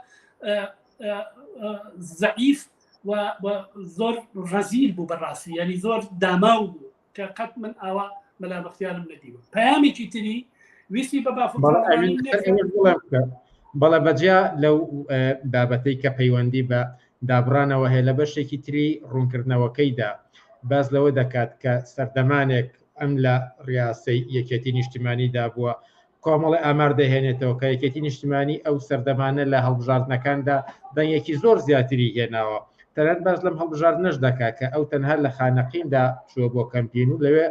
زعیف زۆر ڕزیل بوو بەڕاستی ینی زۆر داماو بوو کە قەت من ئاوا مەلا بەختیارم نەدیوە پامێکی تری ویستی بە بافڵ بەڵێ بەجیا لەو بابەتەی کە پەیوەندی بە دابڕانەوە هەیە، لە بەشێکی تری ڕوونکردنەوەکەیدا باس لەوە دەکات کە سەردەمانێک ئەم لە ڕیاسەی یەکێتی نیشتیمانیدا بووە، کۆمەڵی ئامار دەهێنێتەوە کە یەکێتی نیشتیمانی ئەو سەردەمانە لە هەڵبژاردنەکاندا دەنگێکی زۆر زیاتری هێناوە، تەنانەت باس لەم هەڵبژاردنەش دەکات کە ئەو تەنها لە خانەقیندا چووە بۆ کەمپین و لەوێ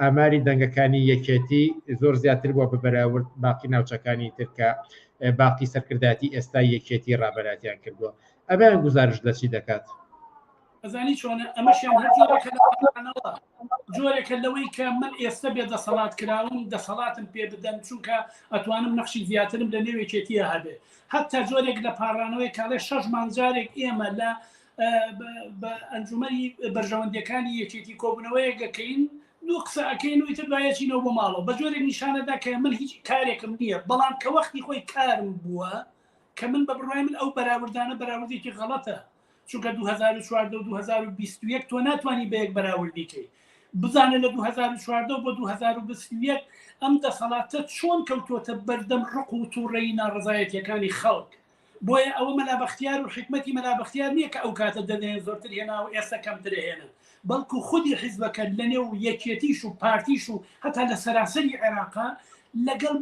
ئاماری دەنگەکانی یەکێتی زۆر زیاتر بووە بە بەراورد باقی ناوچەکانی تر کە باقی سەرکردایەتی ئێستای یەکێتی ڕابەراتیان کردووە ئەبیان گزارش لە چی دەکات ئەزانی چۆنە ئەمەشیان هەرەوە جۆرێکە لەوەی کە من ئێستا بێ دەسەڵات کراون دەسەڵاتم پێ بدەن چونکە ئەتوانم نەخشی زیاترم لە نێوێکێتیە هەبێ حتا جۆرێک لە پاڕانەوەی کاڵێ شەش مانجارێک ئێمە لە بە ئەنجومەری بەرژەوەندەکانی یەکێتی کۆبنەوەیە گەکەین دو قسە ئەەکەین وتر باەچینەوە بۆ ماڵەوە بە جۆرێک نیشانەدا کە من هیچ کارێکم نییە بەڵام کە وەختی خۆی کارم بووە کە من بە بڕای من ئەو بەراوردانە بەراوردێکی غەڵەتە چونکە 2014 و 2021 تۆ ناتوانانی بە یەک بەراوردی کەی بزانە لە 2014 بۆ 2021 ئەم دەسەڵاتە چۆن کەوتۆتە بەردەم ڕق و تووڕێی ناڕزایەتەکانی خەڵک بۆیە ئەوە مەلا بەختیار و حیکمەتی مەلا بەختیار نییە کە ئەو کاتە دەدەیەن زۆرتر هێنا و ئێستا کەمتر ئەهێنن، بەڵکو خودی حیزبەکە لەنێو یەکێتیش و پارتیش و هەتا لە سەراسەری عێراقا لەگەڵ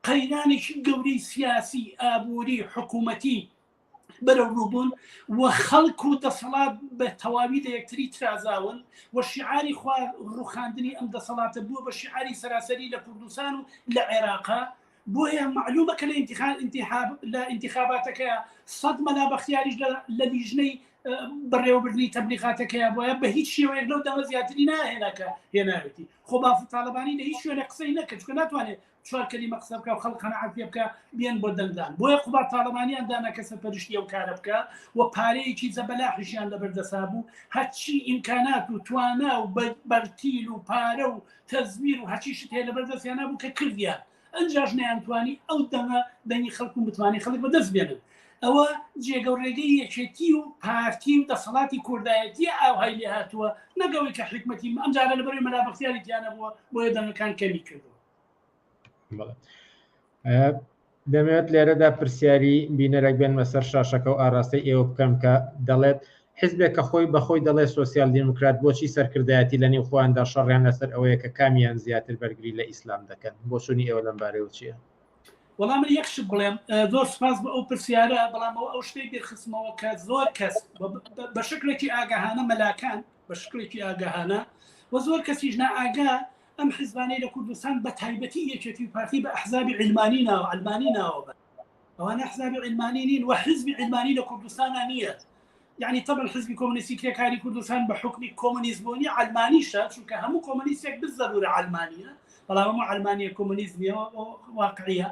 قەیرانێکی گەورەی سیاسی، ئابووری، حکوومەتی بەرەوڕوو بوون و خەڵک و دەسەڵات بە تەواوی لە یەکتری ترازاون و شیعاری خوار ڕوخاندنی ئەم دەسەڵاتە بووە بە شیعاری سەراسەری لە کوردستان و لە عێراقا، بۆیە مەعلومە کە لە ئینتیخاباتەکە سەد مەلا بەختیاریش لە لیژنەی بەڕێوەبردنی تەبلیغاتەکەیە بۆە بە هیچ شێوەیەک لەو دەمە زیاتری ناهێناکە هێناوێتی خۆ باف تاالبانی لە هیچ شوێنە قسەی نەکە چکە ناتوانێت چوار کەلیمە قسە بکە و خەڵ قەنەعات پێ بکە بیان بۆ دەنگدان بۆیە قوبا تاالبانیان دانا کەسە پەرشتی ئەو کارە بکە و پارەیەکی زەبەلاحشیان لەبەردەسا بوو هەرچی ئیمکانات و توانا و بەرتیل و پارە و تەزویر و هەچی شت هەیە لەبەر دەستیان نبوو کە کردیان ئەنجاش نەیانتوانی ئەو دەمە دەنگی خەڵک و متمانەی خەڵک بەدەست بێنن ئەوە جێگە و ڕێگەی یەکێتی و پارتی و دەسەڵاتی کوردایەتی ئاوهای لێ هاتووە نەگەوەی کە حکومەتی ئەمجارە لەبەر مەلا بەختیاری تیانە بووە بۆیە دەنگەکان کەمی کردووە دەمەوێت لێرەدا پرسیاری بینەرەک بێنمە سەر شاشەکە و ئاراستەی ئێوە بکەم کە دەڵێت حزبێک کە خۆی بەخۆی دەڵێ سوسیال دیموکرات بۆچی سەرکردایەتی لە نێو خۆیاندا شەڕیان لەسەر ئەوەیە کە کامیان زیاتر بەرگری لە ئیسلام دەکەن بۆچوونی ئێوە لەم بارەیەوە چییە؟ وەڵام من یەکشت بڵێم زۆر سپاس بۆ ئەو پرسیارە بەڵامەوە ئەو شتێک دەرخستمەوە کە زۆر کەس بە شکلێکی ئاگەهانە مەلاکان بە شکلێکی ئاگەهانە و زۆر کەسیش نائگا ئەم حیزبانەی لە کوردستان بە تایبەتی یەکێتی و پارتی بە ئەحزابی علمانی ناو علمانی ناوە بە ئەوانە حزابی علمانی نین و حزبی علمانی لە کوردستانە نییە یعنی طبعا حزبی کۆمونیستی کرێکاری کوردستان بە حکمی کۆمونیزمۆنی علمانیشە چونکە هەموو کۆمونیستێک بزەبوورە علمانیە بەڵام هەموو علمانیە کۆمونیزمیەوە واقعە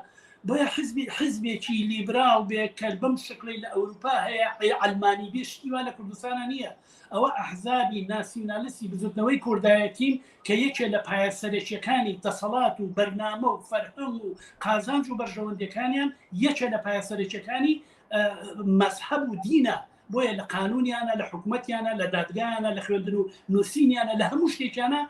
بۆیە حزبی حزبێکی لیبرال بێ کە بەم شکلی لە ئەوروپا هەیە علمانی بێشتیوا لە کوردستانە نییە ئەوە ئەحزابی ناسیونالستی بزوتنەوەی کوردایەتین کە یەکێ لە پایە سەرەکیەکانی دەسەڵات و بەرنامە و فەرهەنگ و قازانج و بەرژەوەندەکانیان یەکێ لە پایە سەرەکیەکانی مەزحەب و دینە بۆیە لە قانونیانە لە حکوومەتیانە لە دادگایانە لە خوێندن و نووسینیانە لە هەموو شتێکیانە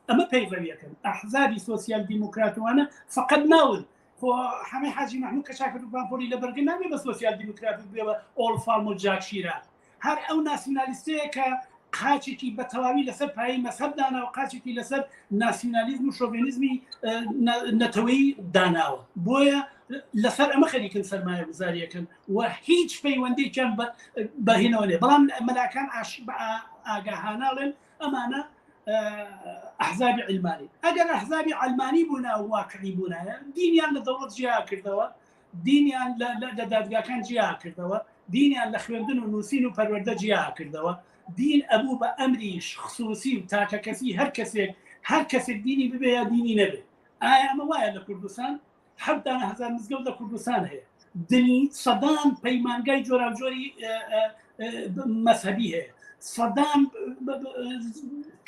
ئەمە پەیڕەویەکەن ئەحزابی سوسیال دیموکراتوانە فقط ناون خۆ حەمەی حاجی مەحمود کە چاکە پانپۆلی لە بەرگە نامێ بە سۆسیال دیموکرات بێەوە ئۆڵ فارم و جاکشیرا هەر ئەو ناسیونالیستەیە کە قاچێکی بە تەواوی لەسەر پایی مەسەب دانا و قاچێکی لەسەر ناسیونالیزم و شۆڤێنیزمی نەتەوەی داناوە بۆیە لەسەر ئەمە خەریکن سەرمایە گوزاریەکەن و هیچ پەیوەندێکیان بەهێنەوە لێ بەڵام مەلاکان ئاش ئاگاهاناڵێن ئەمانە ئەحزابی علمانی ئەگەر ئەحزابی علمانی بوونا و واقعی بوونایە دینیان لە دەوڵەت جیا کردەوە دینیان لە دادگاکان جیا کردەوە دینیان لە خوێندن و نووسین و پەروەەردە جیا کردەوە دین ئەبوو بە ئەمریش خصوصی و تاکە کەسی هەر کەسێک هەر کەسێک دینی ببێ یا دینی نەبێت ئایا ئەمە وایە لە کوردستان حەفت دانە هزار مزگەوت لە کوردستان هەیە دنی سەدان پەیمانگای جۆراوجۆری مەذهبی هەیە سەدان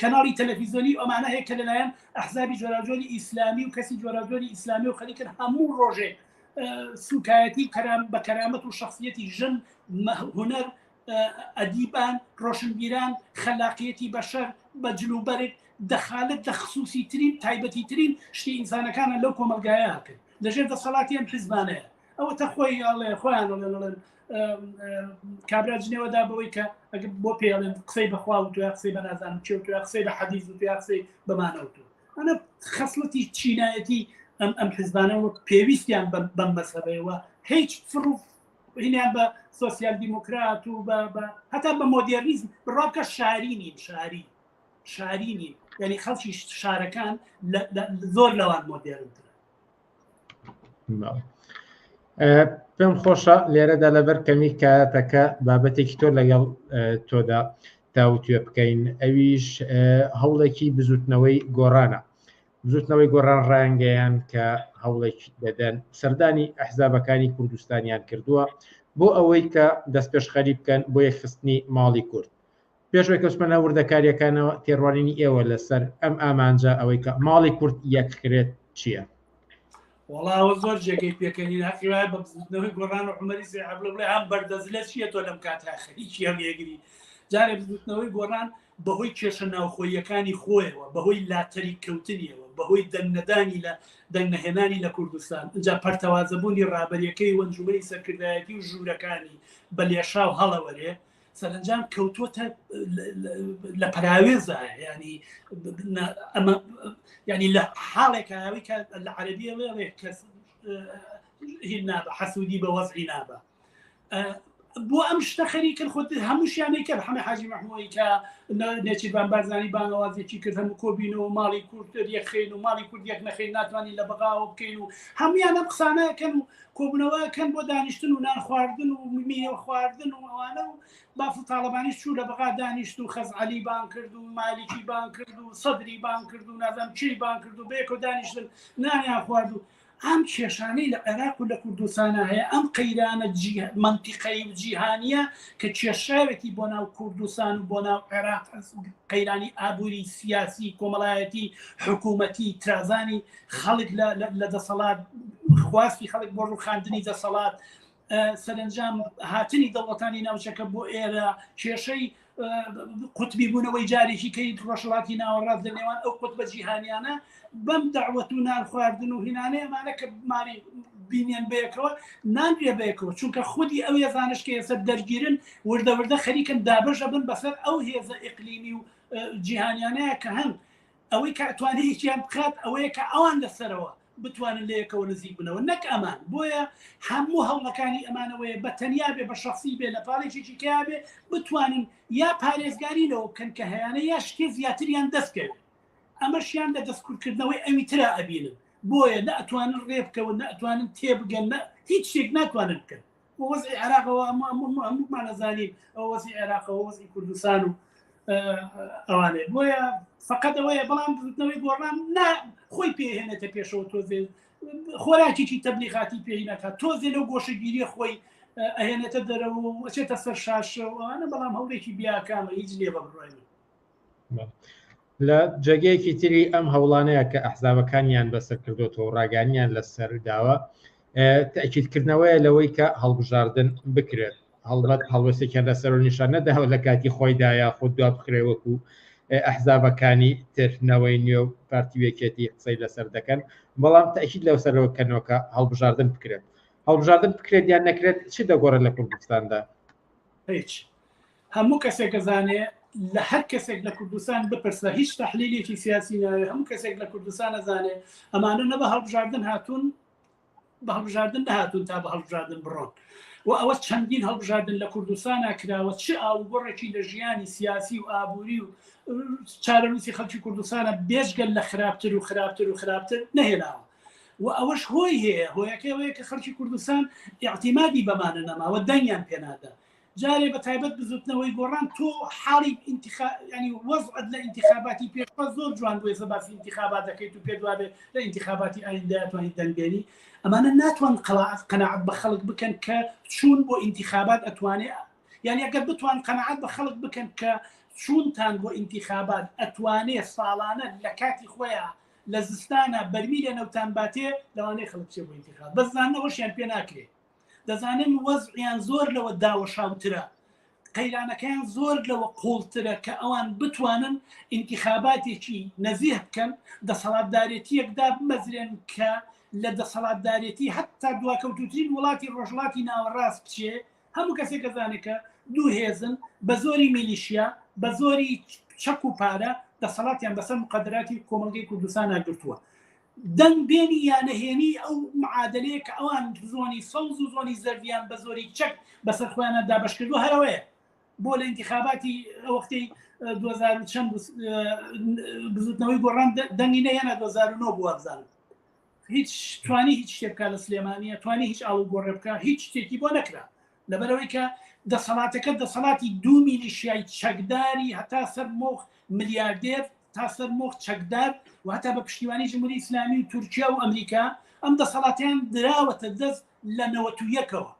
کەناڵی تەلەفیزۆنی ئەمانە هەیە کە لەلایەن ئەحزابی جۆراجۆری ئیسلامی و کەسی جۆراجۆری ئیسلامی و خەریکن هەموو ڕۆژێک سوکایەتی کەرام بە کەرامەت و شخصیەتی ژن هوەر ئەدیبان ڕۆشنبیران خەلاقیەتی بەشەر بە جلوبەرگ دەخالت لە خصوصی ترین تایبەتی ترین شتی ئینسانەکانە لەو کۆمەلگایە کرد لەژێر دەسەڵاتی ئەم حزبانەیە ئەوە تە خۆی ئاڵێ خۆیان لەڵێن کابرا جنێوەدا بەوەی کە ئەگە بۆ پێڵێن قسەی بەخوا و دوای قسەی بە نازانم چێ و دوای قسەی بە حەدیز و دوای قسەی بەمانەوت و ئەە خەسڵەتی چینایەتی ئەم ئەم حزبانە وەک پێویستیان بەم مەسەبەوە هیچ فڕوف هینیان بە سۆسیال دیموکرات و هەتا بە مۆدیرنیزم بڕاکە شاری نیم شاری شاری نیم یعنی خەڵکی شارەکان زۆر لەوان مۆدیرنتر پێم خۆشە لێرەدا لەبەر کەمی کاتەکە بابەتێکی تۆ لەگەڵ تۆدا تاوتێ بکەین ئەویش هەوڵێکی بزوتنەوەی گۆڕانە بزوتنەوەی گۆڕان ڕایانگەیان کە هەوڵێکی دەدەن سەردانی ئەحزابەکانی کوردستانیان کردووە بۆ ئەوەی کە دەستپێشخەری بکەن بۆ یەکخستنی ماڵی کورد پێشوەی کەسمەە وردەکاریەکانەوە تێڕوانینی ئێوە لەسەر ئەم ئامانجە ئەوەی کە ماڵی کورد یەکخرێت چییە؟ وەڵا ئەوە زۆر جێگەی پێکەنین هەقی وایە بە بزوتنەوەی گۆڕان و عمەری سێ عبلە بڵێ هەم بەردەزلە چییە تۆ لەم کاتە خەریکی هەم یەگری جارێ بزوتنەوەی گۆڕان بەهۆی کێشە ناوخۆیەکانی خۆیەوە بەهۆی لاتەری کەوتنیەوە بەهۆی دەنگنەدانی لە دەنگنەهێنانی لە کوردستان جا پەرتەوازەبوونی ڕابەریەکەی وەنجومەی سەرکردایەتی و ژوورەکانی بە لێشاو هەڵەوەرێ سەرنجام کەوتووەتە لە پراوێزە ینی ئەمە ینی لە حاڵێک ئەوی کە لە عەربیە وێڵێ کەس هی نابە حەسوودی بە وەزعی نابە بۆ ئەم شتە خەریکن خۆت هەمووشیانەی کرد حەمە حاجی مەحمۆی کە نێچیبان بارزانانی بانەوازێکی کرد هەموو کۆبینەوە ماڵی کوردتر یەخین و ماڵی کورد یەک نەخین ناتوانین لە بەغاوە بکەین و هەمویان ئەم قسانەکەن و کۆبنەوە کەن بۆ دانیشتن و نان خواردن و میوە خواردن و ئەوانە و بافڵ تاالبانی چوو لە بەغا دانیشت و خەزعلی بان کرد و مالیکی بان کرد و سەدری بان کرد و نازم چی بان کرد و بێکۆ دانیشتن نانیان خوارد و ئەم کێشانەی لە عێراق و لە کوردستانە هەیە ئەم قەیرانە منتیقەی و جیهانیە کە کێشاوێتی بۆ ناو کوردستان و بۆ ناو عێراق قەیرانی ئابووری سیاسی کۆمەڵایەتی حکوومەتی ترازانی خەڵک لە دەسەڵات خواستی خەڵک بۆ ڕوخاندنی دەسەڵات سەرنجام هاتنی دەوڵەتانی ناوچەکە بۆ ئێرە کێشەی قوتبی بوونەوەی جارێکی کەی ڕۆژڵاتی ناوەڕاست لە نێوان ئەو قوت بە جیهانیانە بەم داوەت و نان خواردن و هینانەیە مانە کە ماری بینێن بەیەکەوە نانرێ بەیەکەوە چونکە خودی ئەو هێزانش کە ئێستا دەرگیرن وردەوردە خەریکن دابژە بن بەسەر ئەو هێزە ئەقلیمی و جیهانیانەیە کە هەن ئەوەی کە ئەتوانێ یەکیان بکات ئەوەیە کە ئەوان لە سەرەوە بتوانن لە یەکەوە نزیک بنەوە نەک ئەمان بۆیە هەموو هەوڵەکانی ئەمانەوەیە بە تەنیا بێ بە شخصی بێ لە پاڵێکێکی کیا بێ بتوانن یا پارێزگاری لەوە بکەن کە هەیانە یا شتێ زیاتریان دەستکەوێت ئەمەشیان لە دەستکردکردنەوەی ئەوی تررا ئەبینن بۆیە نە ئەتوانن ڕێ بکەون نە ئەتوانن تێبگەن نە هیچ شتێک ناتوانن بکەن وەزی عێراقەوە هەموومان نەزانین ئەو وەزی عێراقەوە وەزی کوردستان و ئەوانێ بۆیە فقط ئەوەیە بەڵام بزنەوەی گۆڕان نا خۆی پێهێنێتە پێشەوە تۆزێ خۆراکیی تەبلیغاتی پێی ناکات تۆزێ لەو گۆشەگیری خۆی ئەهێنێتە دەرەوە وەچێتە سەر شاشەوەوانە بەڵام هەوڵێکی بیاکانە هیچ لێ بەڕێنی لە جێگەیەکی تری ئەم هەوڵانەیە کە ئەحزابەکانیان بەسەر کردوەوە ڕاگانیان لەسەر داوە تاکیدکردنەوەیە لەوەی کە هەڵبژاردن بکرێت هەڵبەت هەڵوەستێکیان لەسەر و نیشان نەداوە لە کاتی خۆیدا یا خود دوا بخرێ وەکو ئەحزابەکانی ترنەوەی نوێ و پارتی وێکێتی قسەی لەسەر دەکەن بەڵام تاکیید لەو سەرەوە کەنەوەکە هەڵبژاردن بکرێت هەڵبژاردن بکرێت یان نەکرێت چی دەگۆڕێت لە کوردستاندا هیچ هەموو کەسێک ئەزانێ لە هەر کەسێک لە کوردستان بپرسە هیچ تحلیلێکی سیاسی ناوێ هەموو کەسێک لە کوردستان ئەزانێ ئەمانە نە بە هەڵبژاردن هاتوون بە هەڵبژاردن نهاتون تا بە هەڵبژاردن بڕۆن و ئەوە چەندین هەڵبژاردن لە کوردستان کراوە چ ئاوگۆڕێکی لە ژیانی سیاسی و ئابووری و چارەنووسی خەڵکی کوردستانە بێژگەل لە خراپتر و خراپتر و خراپتر نەهێناوە و ئەوەش هۆی هەیە هۆیەکەوەیە کە خەڵکی کوردستان یاعتیمادی بەمانە نەماوە دەنگیان پێنادا جارێ بە تایبەت بزوتنەوەی گۆڕان تۆ حاڵی ئینتخا ینی وەزعت لە ئینتخاباتی پێشوە زۆر جوان بووێ زە باسی ئینتخابات دەکەیت و پێت وابێت لە ئینتخاباتی ئایندە توانیت دەنگێنی ئەمانە ناتوان قەڵات قەنەعات بە خەڵک بکەن کە چوون بۆ ئینتخابات ئەتوانێ یعنی ئەگەر بتوان قەنەعات بە خەڵک بکەن کە چونتان بۆ ئینتخابات ئەتوانێ ساڵانە لە کاتی خۆیان لە زستانە بەرمی لە نەوتان باتێ لەوانەیە خەڵک چێ بۆ ئینتخاب بەزانەوەشیان پێ ناکرێت دەزانم وەزعیان زۆر لەوە داوەشاوترە، قەیرانەکەیان زۆر لەوە قوڵترە کە ئەوان بتوانن ئینتیخاباتێکی نەزیه بکەن، دەسەڵاتدارێتییەک دابمەزرێن کە لە دەسەڵاتدارێتی هەتا دواکەوتووترین وڵاتی ڕۆژهەڵاتی ناوەڕاست بچێ، هەموو کەسێک ئەزانێ کە دوو هێزن بە زۆری میلیشیا، بە زۆری چەک و پارە دەسەڵاتیان بەسەر موقەدەراتی کۆمەڵگەی کوردستانا گرتووە. دەنگ بێنی یا نەهێنیی ئەو معادەلەیە کە ئەوان زۆنی سەوز و زۆنی زەردیان بە زۆری چەک بەسەر خۆیانا دابەش کردووە هەر ئەوەیە بۆ لە ئینتیخاباتی ئەو وەختەی 2000 و چەند بزوتنەوەی گۆڕان دەنگی نەهێنا 2009 بووە بزانم هیچ توانی هیچ شتێ بکە لە سلێمانە توانی هیچ ئاڵو گۆڕێ بکە هیچ شتێکی بۆ نەکرا لەبەرئەوەی کە دەسەڵاتەکە دەسەڵاتی دوو میلیشیای چەکداری هەتا سەر مۆخ ملیاردێر تا سەر مۆخ چەکدار و هەتا بە پشتیوانی جمهوری ئیسلامی و تورکیا و ئەمریکا ئەم دەسەڵاتیان دراوەتە دەست لە نەوەت و یەکەوە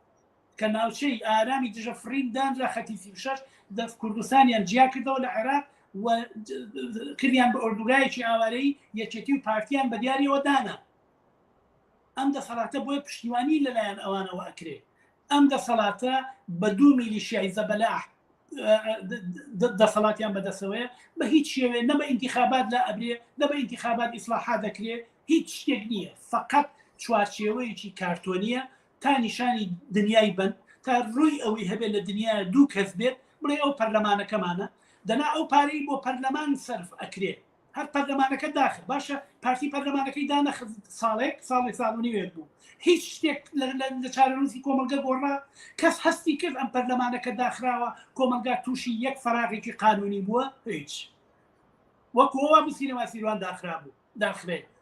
کە ناوچەی ئارامی دژە فڕین دانرا خەتی سی و شەش دەست کوردستانیان جیا کردەوە لە عێراق و کردیان بە ئۆردوگایەکی ئاوارەی یەکێتی و پارتیان بە دیاریەوە دانا ئەم دەسەڵاتە بۆیە پشتیوانی لەلایەن ئەوانەوە ئەکرێ ئەم دەسەڵاتە بە دوو میلیشیای زەبەلاح دەسەڵاتیان بەدەسەوەیە بە هیچ شێوێ نەبە ئینتیخابات لە ئەبرێ نەبە ئینتیخابات ئیسلاحا دەکرێ هیچ شتێک نییە فقط چوارچێوەیەکی کارتۆنیە تا نیشانی دنیای بن تا ڕووی ئەوەی هەبێت لە دنیا دوو کەس بێت بڵێ ئەو پەرلەمانەکەمانە دەنا ئەو پارەی بۆ پەرلەمان سرف ئەکرێت هەر پەرلەمانەکە داخل باشە پارتی پەرلەمانەکەی دانەخ ساڵێک ساڵێک ساڵنیوێت بوو هیچ شتێک لە چارەنووسی کۆمەلگە گۆڕا کەس هەستی کرد ئەم پەرلەمانەکە داخراوە کۆمەلگا تووشی یەک فراغێکی قانونی بووە هیچ وەکوەوە بسینەما سیروان داخرا بوو داخرێت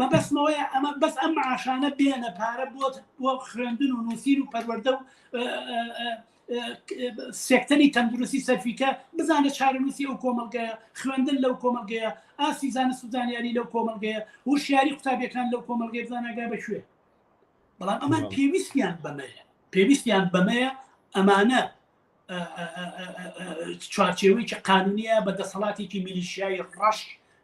مەبەستمەوەیە ئەمە بەس ئەم معاشانە بێنە پارە بۆت بۆ خوێندن و نووسین و پەروەەردە و سێکتەری تەندروستی سەرفیکە بزانە چارەنووسی ئەو کۆمەلگەیە خوێندن لەو کۆمەلگەیە ئاسی زانە سوزانیاری لەو کۆمەلگەیە هوشیاری قوتابەکان لەو کۆمەلگەی بزانەگا بەکوێ بەڵام ئەمان پێویستیان بەمەیە پێویستیان بەمەیە ئەمانە چوارچێوەیەکی قانونیە بە دەسەڵاتێکی میلیشیایی ڕەش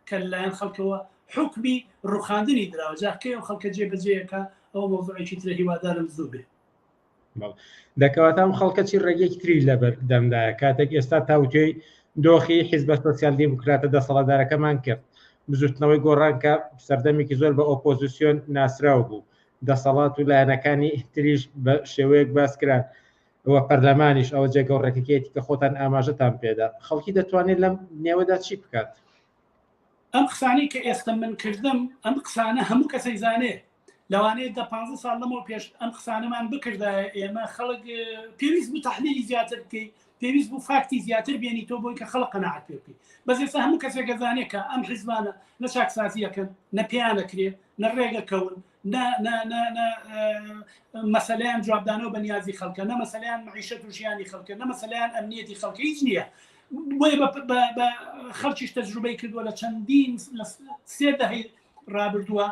کە لەلایەن خەڵکەوە حکمی ڕوخاندنی دراوە جاکەی و خەڵکە جێ بەجێەکە ئەو مۆزۆێکی ترە هیوادارم زوو بێ دەکەواتام خەڵکە چی ڕێگەێکی تری لە بەردەمدایە کاتێک ئێستا تاوتێی دۆخی حیزبە سوسیال دیموکراتە دەسەڵاتدارەکەمان کرد بزوتنەوەی گۆڕانکە سەردەمێکی زۆر بە ئۆپۆزیسیۆن ناسراو بوو دەسەڵات و لایەنەکانی تریش بە شێوەیەک باسکران وە پەرلەمانیش ئەوە جێگە و ڕێکەکەیەتی کە خۆتان ئاماژەتان پێدا. خەڵکی دەتوانێت لەم نێوەدا چی بکات؟ ئەم قسانەی کە ئێستا من کردم، ئەم قسانە هەموو کەسەیزانێ. لەوانەیە دە پانزە ساڵ لەمەو پێش ئەم قسانەمان بکردایە ئێمە خەڵک پێویست بوو تحلیلی زیاتر بکەی پێویست بوو فاکتی زیاتر بێنی تۆ بۆی کە خەڵق قەنەعات پێ بکەی بەس ئێستا هەموو کەسێکە زانێکە ئەم حیزبانە نە چاکسازیەکەن نە پێیانەکرێ نە ڕێگەکەون نە نە نە نە مەسەلیان جوابدانەوە بە نیازی خەڵکە نە مەسەلیان معیشەت و ژیانی خەڵکە نە مەسەلیان ئەمنیەتی خەڵکە هیچ نییە بۆیە بە خەڵکیش تەجروبەی کردووە لە چەندین لە سێ دەهی رابردووە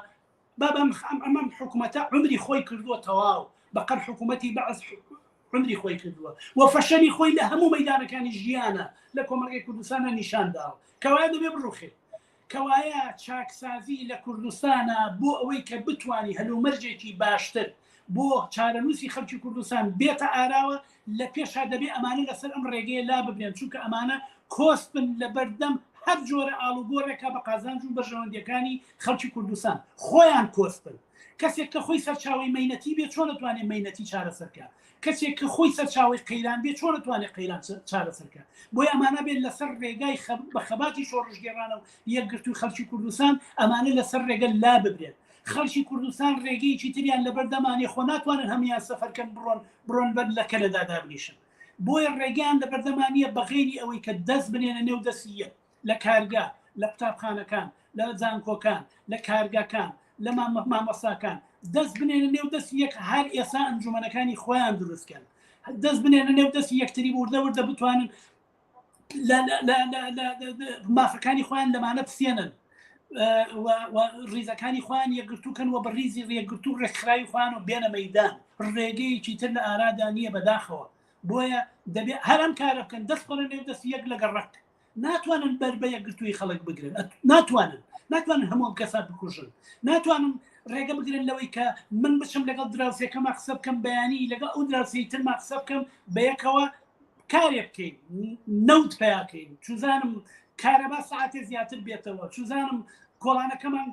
بابم ئەمەم حکوومەتە عمری خۆی کردووە تەواو بەقەر حکوومەتی بەعز عمری خۆی کردووە و فەشەری خۆی لە هەموو مەدانەکانی ژیانە لە کۆمەلگەی کوردستانە نیشانداوە کەوایە دەبێ بڕوخێت کەوایە چاکسازی لە کوردستانە بۆ ئەوەی کە بتوانی هەلومەرجێکی باشتر بۆ چارەنووسی خەلکی کوردستان بێتە ئاراوە لە پێشا دەبێ ئەمانە لەسەر ئەم ڕێگەیە لا ببرێن چونکە ئەمانە کۆست بن لە بەردەم هەر جۆرە ئاڵوگۆرێکە بە قازانج و بەرژەوەندیەکانی خەلکی کوردستان خۆیان کۆست بن کەسێک کە خۆی سەرچاوی مەینەتی بێ چۆن دەتوانێت مەینەتی چارەسەرکە کەسێک کە خۆی سەرچاوەی قەیران بێ چۆن دەتوانێت قەیران چارەسەر بکات بۆی ئەمانە بێت لەسەر ڕێگای بە خەباتی شۆڕشگێڕانە و یەکگرتووی خەڵکی کوردستان ئەمانە لەسەر ڕێگە لا ببرێت خەڵکی کوردستان ڕێگەیەکی تریان لەبەر دەمانێ خۆ ناتوانن هەموان سەفەرکەن بڕۆن بڕۆن بەر لە کەنەدا دابنیشن بۆیە ڕێگەیان لە بەردەمانە بەغێری ئەوەی کە دەست بنێنە نێو دەستی یەک لە کارگە، لە قوتابخانەکان، لە زانکۆکان، لە کارگەکان، لە مامۆستاکان، دەست بنێنە نێو دەستی یەک هەر ئێسا ئەنجومەنەکانی خۆیان دروستکەن دەست بنێنە نێو دەستی یەکتری وردە وردە بتوانن مافەکانی خۆیان لەمانە پسێنن ڕیزەکانی خوان یەگرتوکەن و بە ڕیزی ڕێگرتو و ڕێکخراوی خوان و بێنە مەدان ڕێگەیەکی تر لە ئارادا نییە بەداخەوە بۆیە دەبێت هەرم کارە بکەن دەست پڕێن دەست یەک لەگە ڕەک ناتوانن بەر بە یەکگرتووی خەڵک بگرن ناتوانن ناتوانن هەمووم کەسا بکوژن ناتوانم ڕێگە بگرن لەوەی کە من بچم لەگەڵ دراوسەکەم قسە بکەم بەیانی لەگەڵ ئەو دراوسی ترما قسە بکەم بە یەکەوە کارێک بکەین نەوت پیاکەین چزانم کارەبا ساعتێ زیاتر بێتەوە چزانم کۆڵانەکەمان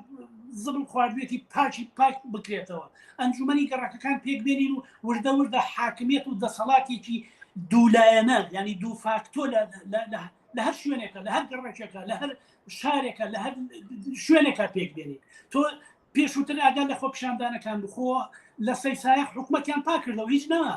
زبڵ خواردوێتی پاکی پاک بکرێتەوە ئەنجومی گەڕەکەکان پێک بێنین و وردە وردە حاکمیت و دەسەڵاتێکی دوولایەنە ینی دوو فاکتۆ لە هەر شوێنێکە لە هەر گەڕێکێکە لە هەر شارێکە لە هەر شوێنێکە پێک بێنیت تۆ پێشووتر ئاگان لە خۆپشاندانەکان بخۆ لە سەیسایە حکوومەتیان پاکردەوە هیچ نەما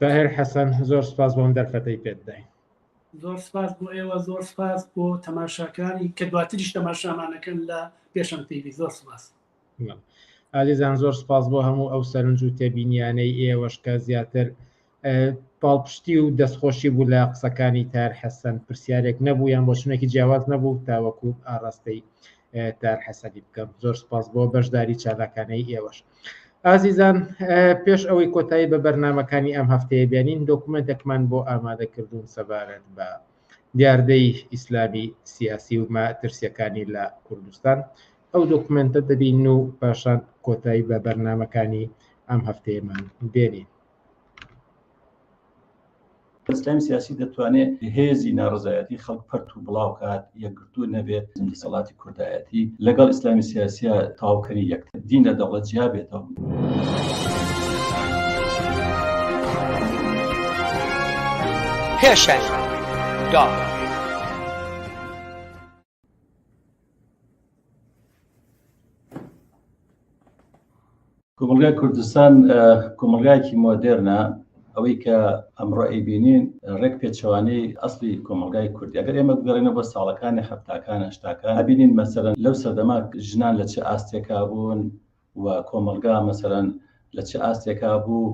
تاهر حەسەن زۆر سپاس بۆم دەرفەتەی پێت داین زۆر سپاس بۆ ئێوە زۆر سپاس بۆ تەماشاکانی کە دواتریش تەماشامانەکەن لە پێشم تیوی زۆر سپاس ئازیزان زۆر سپاس بۆ هەموو ئەو سەرنج و تێبینیانەی ئێوەشکە زیاتر پاڵپشتی و دەستخۆشی بوو لە قسەکانی تار حەسەن پرسیارێک نەبوو یان بۆ شنێکی جیاواز نەبوو تاوەکو ئاڕاستەی تار حەسەنی بکەم زۆر سپاس بۆ بەشداری چالاکانەی ئێوەش. ئازیزان پێش ئەوەی کۆتایی بە بەرنمەکانی ئەم هەفتەیە بێنین دۆکومنتێکمان بۆ ئامادەکردوون سەبارەت بە دیاردەی ئیسلامی سیاسی و ماترسیەکانی لە کوردستان ئەو دۆکومنتە دەبین و پاشان کۆتایی بە بەرنمەکانی ئەم هەفتەیەمان بێنین. ئیسلامی سیاسی دەتوانێت هێزی ناڕزایەتی خەڵک پەرت و بڵاوکات یەکگرتو نەبێت دەسەڵاتی کوردایەتی لەگەڵ ئیسلامی سیاسە تاوکەری یەکتر دین لە دەوڵەت جیا بێتەوە. پێشەنگ دا. کۆمەلگای کوردستان کۆمەلگایەکی مۆدێرنە ئەوەی کە ئەمڕۆ ئەیبینین ڕێک پێچوانی ئەسلی کۆمەلگای کوردی ئەگەر ئێمە بگەڕێنە بۆ ساڵەکانی هەفتاکان هەشتاکان ئەبینین مەسەرەن لەو سەردەما ژنان لە چ ئاستێکا بوون و کۆمەلگا مەسەرەن لە چ ئاستێکا بوو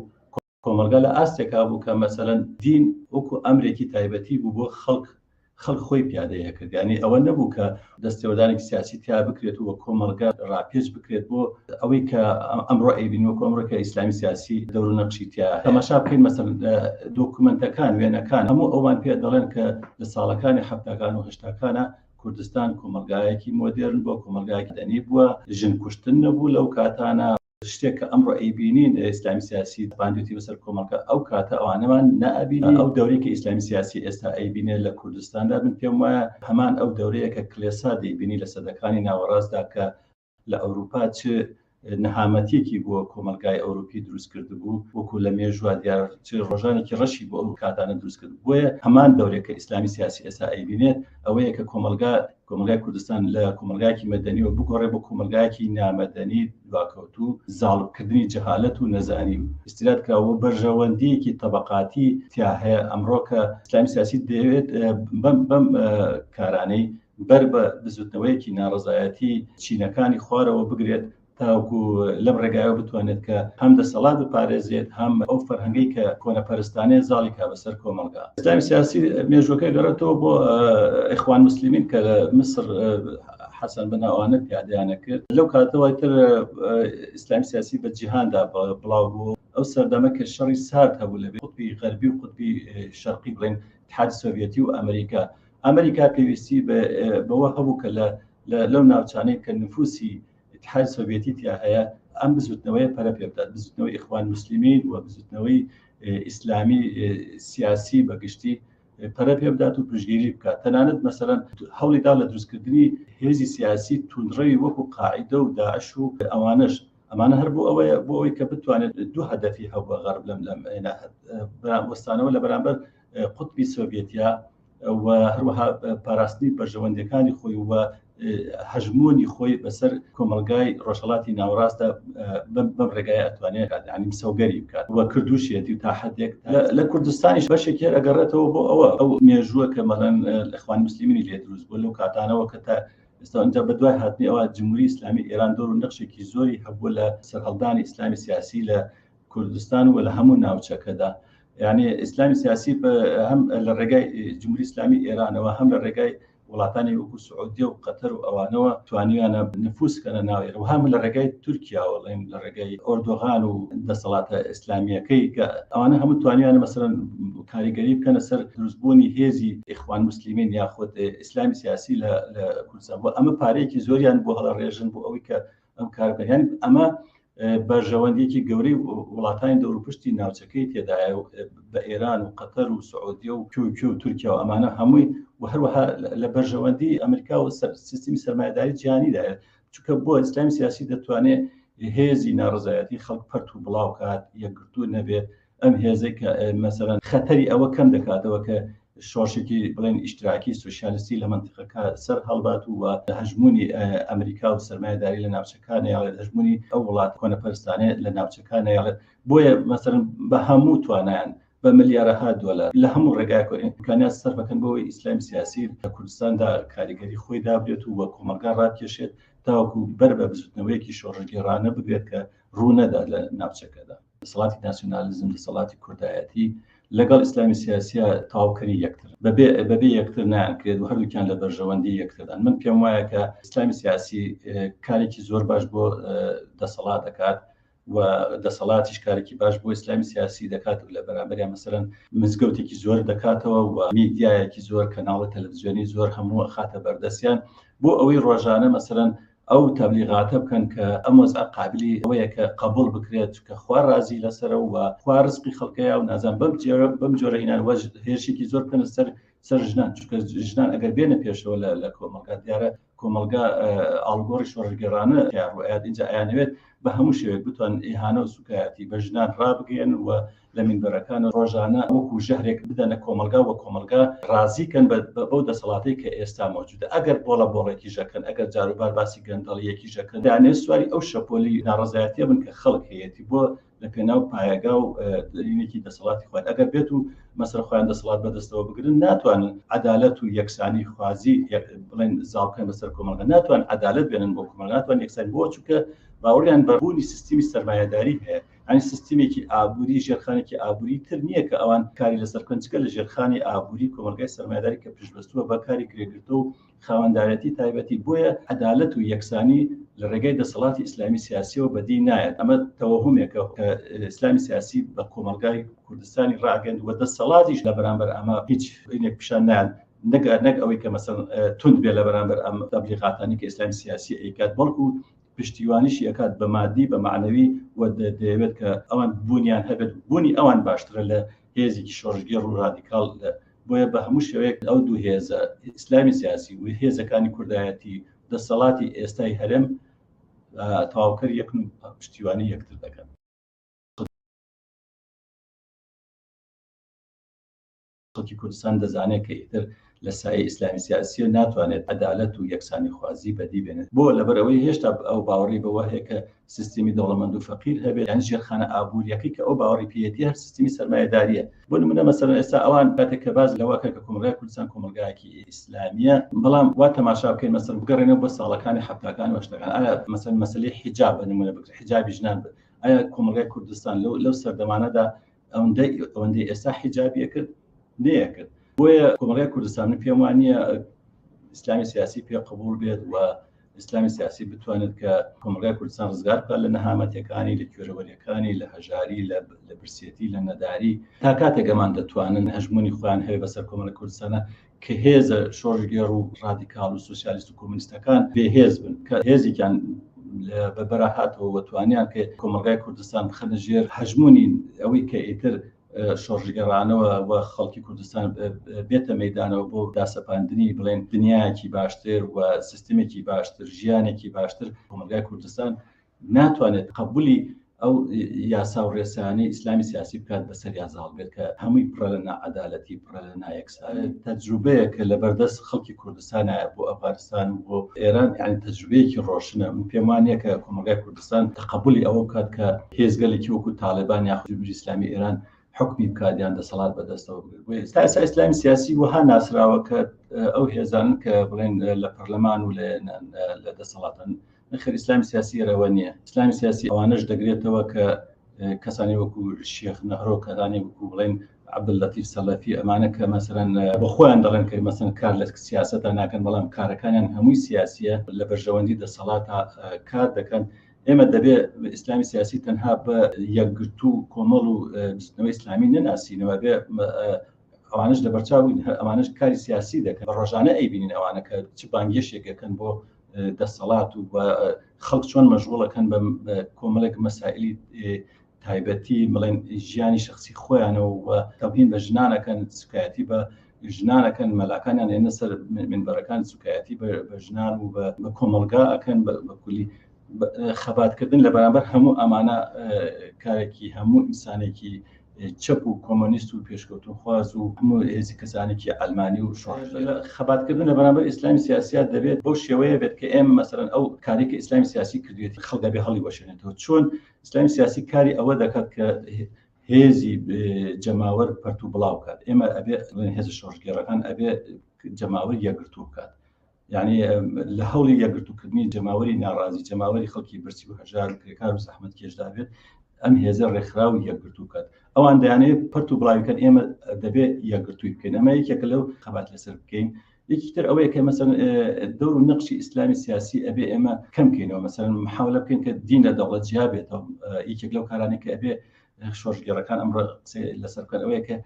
کۆمەڵگا لە ئاستێکا بوو کە مەسەلەن دین وەکو ئەمرێکی تایبەتی بوو بۆ خەڵک، خەڵک خۆی پیادەی ئەکرد، یانی ئەوە نەبوو کە دەستێوەردانێکی سیاسی تیا بکرێت و کۆمەڵگا ڕاپێچ بکرێت بۆ ئەوەی کە ئەمڕۆ ئەیبینین وەکو ئەمڕۆ کە ئیسلامی سیاسی دەور و نەقشی تیا هەیە. تەماشا بکەین مەسەلەن دۆکومێنتەکان، وێنەکان هەموو ئەوان پێ دەڵێن کە لە ساڵەکانی حەفتاکان و هەشتاکانا کوردستان کۆمەڵگایەکی مۆدێرن بووە، کۆمەڵگایەکی مەدەنی بووە، ژن کوشتن نەبوو لەو کاتانا، شتێک کە ئەمڕۆ ئەیبینین ئیسلامی سیاسی باندێتی بەسەر کۆمەڵگە ئەو کاتە ئەوانەمان نابینی ئەو دەورەی کە ئیسلامی سیاسی ئێستا ئەیبینێ لە کوردستاندا من پێم وایە هەمان ئەو دەورەیە کە کلێسا دەیبینی لە سەدەکانی ناوەڕاستدا کە لە ئەوروپا چ نەهامەتیەکی بۆ کۆمەلگای ئەوروپی دروست کرد بوو وەکو لە مێژوا دیار چ ڕۆژانێکی ڕەشی بۆ ئەو کاتانە دروست کرد بۆیە هەمان دەورێک کە ئیسلامی سیاسی ئێستا ئەیبینێت ئەوەیە کە کۆمەلگا کۆمەڵگای کوردستان لە کۆمەڵگایەکی مەدەنیەوە بگۆڕێ بۆ کۆمەلگایەکی نامەدەنی دواکەوتوو زاڵبکردنی جەهالەت و نەزانی و ئیستیراد کراوە بەرژەوەندیەکی تەبەقاتی تیا هەیە ئەمڕۆ کە ئیسلامی سیاسی دەیەوێت بەم بەم کارانەی بەر بە بزوتنەوەیەکی ناڕزایەتی چینەکانی خوارەوە بگرێت تاوەکو لەم ڕێگایەوە بتوانێت کە هەم دەسەڵات بپارێزێت هەم ئەو فەرهەنگەی کە کۆنەپەرستانەیە زاڵی کا بەسەر کۆمەڵگا ئیسلامی سیاسی مێژوەکە گەڕێتەوە بۆ ئەخوان مسلمین کە لە مسر حەسەن بەناوانە پیادیانە کرد لەو کاتەوە تر ئیسلام سیاسی بە جیهاندا بڵاو بوو ئەو سەردەمە کە شەڕی سارد هەبوو لە قوتبی غەربی و قوتبی شەرقی بڵێن تحاد سۆڤەتی و ئەمریکا ئەمریکا پێویستی بەوە هەبوو کە لە لەو ناوچانەی کە نفوسی ئیتحاد سۆڤێتی تیا هەیە ئەم بزوتنەوەی پەرە پێ بدات بزوتنەوەی ئیخوان مسلمین و بزوتنەوەی ئیسلامی سیاسی بەگشتی پەرە پێ بدات و پشگیری بکات تەنانەت مەسەرەن هەوڵیدا لە دروستکردنی هێزی سیاسی تونڕەوی وەکو قاعدە و داعش و ئەوانش ئەمانە هەر بۆ ئەوەیە بۆ ئەوی کە بتوانێت دوو هەدەفی هەبووە غەرب لەم لەم وەستانەوە لە بەرامبەر قوتبی سۆڤێتیا و هەروەها پاراستنی بەرژەوەندەکانی خۆی و هەژمۆنی خۆی بەسەر کۆمەلگای ڕۆژهڵاتی ناوڕاستە بەم ڕێگای ئەتوانێت ئەنیم سەوگەری بکات وە کردوشێتی تا حدێک لە کوردستانیش بەشێکی ئەگەڕێتەوە بۆ ئەوە ئەو مێژووە کە مەڵەن لەخوان مسللیمینی لێ دروست بۆ لەو کاتانەوە کە تا ئێستا ئەنج بە دوای هاتنی ئەوە جمهوری ئسلامی ئێران دۆر و نەخشێکی زۆری هەبوو لە سەرهەڵدانی ئسلامی سیاسی لە کوردستان و لە هەموو ناوچەکەدا یعنی ئیسلامی سیاسی هەم لە ڕێگای جمهوری ئسلامی ئێرانەوە هەم لە ڕێگای وڵاتانی وەکو سعودیە و قەتەر و ئەوانەوە توانیانە نفوسکەە ناوێر و هەم لە ڕێگای تورکیاوەڵێن لە ڕێگای ئۆردۆغان و دەسەڵاتە ئیسلامیەکەی کە ئەوانە هەموو توانیانە مەسەرەن کاریگەری بکەنە سەر دروستبوونی هێزی ئیخوان مسللیمین یاخود ئیسلامی سیاسی لە کوردستان بۆ ئەمە پارەیەکی زۆریان بۆ هەڵە ڕێژن بۆ ئەوەی کە ئەم کاربیان ئەمە بەرژەوەندیەکی گەورەی وڵاتانی دەوروپشتی ناوچەکەی تێدایە و بە ئێران و قەتەر و سعودیە و تورکیە و تورکیا و ئەمانە هەمووی و هەروەها لە بەرژەوەندی ئەمریکا و سیستمی سەرمایداری جیانیدایە چونکە بۆ ئیسلامی سیاسی دەتوانێت هێزی ناڕزایەتی خەڵک پەرت و بڵاوکات یەکگرتوو نەبێت ئەم هێزەی کە مەسەرەن خەتەری ئەوە کەم دەکاتەوە کە شۆشێکی بڵێن ئیشتراکی سوسیالستی لە منتیقەکە سەر هەڵبات و لە هەژمونی ئەمریکا و سەرمایداری لە ناوچەکان یاڵێت هەژمونی ئەو وڵات کۆنە پەرستانێت لە ناوچەکان یاڵێت بۆیە مەسەر بە هەموو توانیان بە ملیارەها دۆلار لە هەموو ڕێگای کۆنیکانیان سەر بەکەن بۆی ئیسلام سیاسی لە کوردستاندا کاریگەری خۆی دابێت و وە کۆمەلگا ڕاکێشێت تاوەکو بەر بە بزوتنەوەیەکی شۆڕژگەێڕانە بگرێت کە ڕوونەدا لە ناوچەکەدا دەسەڵاتی ناسیۆنالیزم دەسەڵاتی کوردایەتی لەگەڵ ئیسلامی سیاسیە تاوکەری یەکتر بەبێ بەبێ یەکتر نانکرێت و هەردووکیان لە بەرژەوەندی یەکتردان من پێم وایە کە ئیسلامی سیاسی کارێکی زۆر باش بۆ دەسەڵات دەکات و دەسەڵاتیش کارێکی باش بۆ ئیسلامی سیاسی دەکات و لە بەرامبەریان مەسەرەن مزگەوتێکی زۆر دەکاتەوە و میدیایەکی زۆر کەناڵە تەلەڤزیۆنی زۆر هەموو خاتە بەردەستیان بۆ ئەوەی ڕۆژانە مەسەرەن ئەو تەبلیغاتە بکەن کە ئەم وەزعە قابلی ئەوەیە کە قەبوڵ بکرێت چونکە خوا ڕازی لەسەرە و خوا ڕزقی خەڵکەیە و نازان بەم جۆرە بەم جۆرە هینان وەج هێرشێکی زۆر بکەنە سەر سەر ژنان چونکە ژنان ئەگەر بێنە پێشەوە لە لە کۆمەڵگا دیارە کۆمەڵگا ئاڵگۆڕی شۆڕگەرانە تیاڕوئات اینجا ئەیانەوێت بە هەموو شێوێک بتوان ئیهانە و سوکایەتی بە ژنان ڕابگەن و لە مینبەرەکان ڕۆژانە وەکو ژەهرێک بدەنە کۆمەڵگا و کۆمەڵگا ڕازی کەن بەو دەسەڵاتەی کە ئێستا مەوجودە ئەگەر بۆڵە بۆڵێکیش ئەکەن ئەگەر جاروبار باسی گەندەڵیەکیش ئەکەن دانێ سواری ئەو شەپۆلی ناڕەزایەتیە بن کە خەڵک هەیەتی بۆ لە پێناو پایەگا و دەرینێکی دەسەڵاتی خوارد ئەگەر بێت و مەسەر خۆیان دەسەڵات بەدەستەوە بگرن ناتوانن عدالەت و یەکسانی خوازی بڵێن زاڵکەن بەسەر کۆمەڵگە ناتوان عدالت بێنن بۆ کۆمەڵ ناتوان یەکسان بۆ چووکە باوەڕیان بەبوونی سیستمی سەرمایهداری هەیە یانی سیستمێکی ئابووری ژێرخانێکی ئابووری تر نییە کە ئەوان کاری لەسەر بکەن چکە لە ژێرخانی ئابووری کۆمەلگای سەرمایداری کە پشتبەستووە بە کاری کرێگرتە و خاوەندارەتی تایبەتی بۆیە عەدالەت و یەکسانی لە ڕێگای دەسەڵاتی ئیسلامی سیاسیەوە بەدی نایەت ئەمە تەوەهمێکە کە ئیسلامی سیاسی بە کۆمەلگای کوردستانی ڕاگەند وە دەسەڵاتیش لە بەرامبەر ئەمە هیچ هینێک پیشان نایەن نەگەر نەک ئەوەی کە مەسەن تونند بێ لە بەرامبەر ئەم تەبلیغاتانی کە ئیسلامی سیاسی ئەیکات بەڵکو پشتیوانیشی ئەکات بە مادی بە مەعنەوی و دەیەوێت کە ئەوان بوونیان هەبێت بوونی ئەوان باشترە لە هێزێکی شۆڕشگێڕ و ڕادیکاڵ لە بۆیە بە هەموو شێوەیەک ئەو دوو هێزە ئیسلامی سیاسی و هێزەکانی کوردایەتی دەسەڵاتی ئێستای هەرێم تەواوکەر یەکن و پشتیوانی یەکتر دەکەن خەڵکی کوردستان دەزانێت کە ئیتر لە سایەی ئیسلامی سیاسییە ناتوانێت عەدالەت و یەکسانیخوازی بەدی بێنێت. بۆ؟ لەبەر ئەوەی هێشتا ئەو باوەڕی بەوە هەیە کە سیستمی دەوڵەمەند و فەقیر هەبێت، یانی ژێرخانە ئابوورییەکەی کە ئەو باوەڕی پێیەتی هەر سیستمی سەرمایەدارییە. بۆ نموونە مەسەلەن ئێستا ئەوان کاتێک کە باس لەوە ئەکەن کە کۆمەڵگای کوردستان کۆمەڵگایەکی ئیسلامییە، بەڵام وا تەماشا بکەین مەسەلەن بگەڕێنەوە بۆ ساڵەکانی حەفتاکان و هەشتاکان، ئایا مەسەلەن مەسەلەی حیجاب بە نموونە بگرە، حیجابی ژنان بگرە، ئایا کۆمەڵگای کوردستان لەو سەردەمانەدا ئەوەندەی ئێستا حیجابیە کرد نەیەکرد بۆیە کۆمەڵگای کوردستانی پێم وانە ئیسلامی سیاسی پێ قبول بێت و ئیسلامی سیاسی بتوانێت کە کۆمەلگای کوردستان ڕزگار بکە لە نەهامەتەکانی لە کوێرەوەریەکانی لە هەژاری لە برسێتی لە نەداری تا کاتێک ئەمان دەتوانن هەژمونی خۆیان هەیە بەسەر کۆمەلە کوردستانە کە هێزە شۆڕشگێڕ و ڕادیکاڵ و سوسیالیست و کۆمونیستەکان بێهێز بن کە هێزێکیان بە بەراهاتەوە وە توانیان کە کۆمەڵگای کوردستان بخەنە ژێر هەژمونی ئەوەی کە ئیتر شۆڕژگەڕانەوە و خەڵکی کوردستان بێتە مەدانەوە بۆ داسەپاندنی بڵێن دنیاکی باشتر و سیستمێکی باشتر ژیانێکی باشتر کۆمەلگای کوردستان ناتوانێت تقەبولی ئەو یاسا و ڕێسانەی ئیسلامی سیاسی بکات بەسەر یا زاڵ بێت کە هەمووی پڕە لە ناعادالەتی پڕە لە نایەکسان تەجروبەیە کە لە بەردەست خەڵکی کوردستانایە بۆ ئەفغانستان و بۆ ئێران یان تەجروبەیەکی ڕۆشنە من پێم وانە کە کۆمەلگای کوردستان تقبلی ئەوە بکات کە هێزگەلێکی وەکو تاالبان یا خودبری ئسلامی ئێران حکمی بکاتیان دەسەڵات بەدەستەوە ئێستا ئسا ئسلامی سیاسی وەها ناسراوە کە ئەو هێزان کە بڵێن لە پەرلەمان و لە دەسەڵاتن نەخێر ئیسلامی سیاسی ئێرەوە نییە ئیسلامی سیاسی ئەوانش دەگرێتەوە کە کەسانی وەکو شێخ نەهرۆ کەدانی وەکو بڵێن عبدلەتی سەلەفی ئەمانە کە مەسەرەن بە خۆیان دەڵێن کە مەسن کار لە سیاستە ناکەن بەڵام کارەکانیان هەمووی سیاسیە لە بەرژەوەندی دەسەڵات کار دەکەن ئێمە دەبێ ئیسلامی سیاسی تەنها بە یەکگرتو و کۆمەڵ و بستنەوە ئیسلامی نەناسینەوە بێ ئەوانش لە بەرچاوین هەر ئەمانش کاری سیاسی دەکەن ڕۆژانە ئەیبینین ئەوانەکە چ بانگێشێکەکەن بۆ دەسەڵات و خەڵک چۆن مەژغوڵەکەن بە کۆمەلێک مەسائلی تایبەتی بڵێن ژیانی شخصی خۆیانەوە و تەبین بە ژنانەکەن سکایەتی بە ژنانەکەن مەلاکانیان لێنە سەر منبەرەکان سوکایەتی بە ژنان و بە کۆمەلگا ئەکەن بەکولی خەباتکردن لە بەرامبەر هەموو ئەمانە کارێکی هەموو ئینسانێکی چەپ و کۆمۆنیست و پێشکەوتنخواز و هەموو هێزی کەسانێکی عەلمانی و شۆڕش لە خەباتکردن لە بەرامبەر ئیسلامی سیاسییا دەبێت بەو شێوەیە بێت کە ئێمە مەسەلەن ئەو کاری کە ئیسلامی سیاسی کردوێتی خەڵک دەبێ هەڵیوەشێنێتەوە چۆن ئیسلامی سیاسی کاری ئەوە دەکات کە هێزی جەماوەر پەرت و بڵاو بکات ئێمە ئەبێ هێز شۆڕشگێڕەکان ئەبێ جەماوەر یەکگرتوو بکات یعنی لە هەوڵی یەکگرتووکردنی جەماوەری ناڕازی جەماوەری خەڵکی برسی و هەژار و کرێکار و زەحمەت کێشدابێت ئەم هێزە ڕێکخراو یەکگرتو بکات ئەوان دەیانێت پرت و بڵاویکەن ئێمە دەبێت یەکگرتووی بکەین ئەمە یەکێکە لەو خەبات لەسەر بکەین یەکیتر ئەوەیە کە مەسەن دەور و نەقشی ئیسلامی سیاسی ئەبێ ئێمە کەمکەینەوە مەسەن محاولە بکەین کە دین لە دەوڵەت جیابێتەوە یەکێک لەو کارانێک کە ئەبێ شۆژگەڕەکان ئەمڕ لەسەر بکەن ئەوەیە کە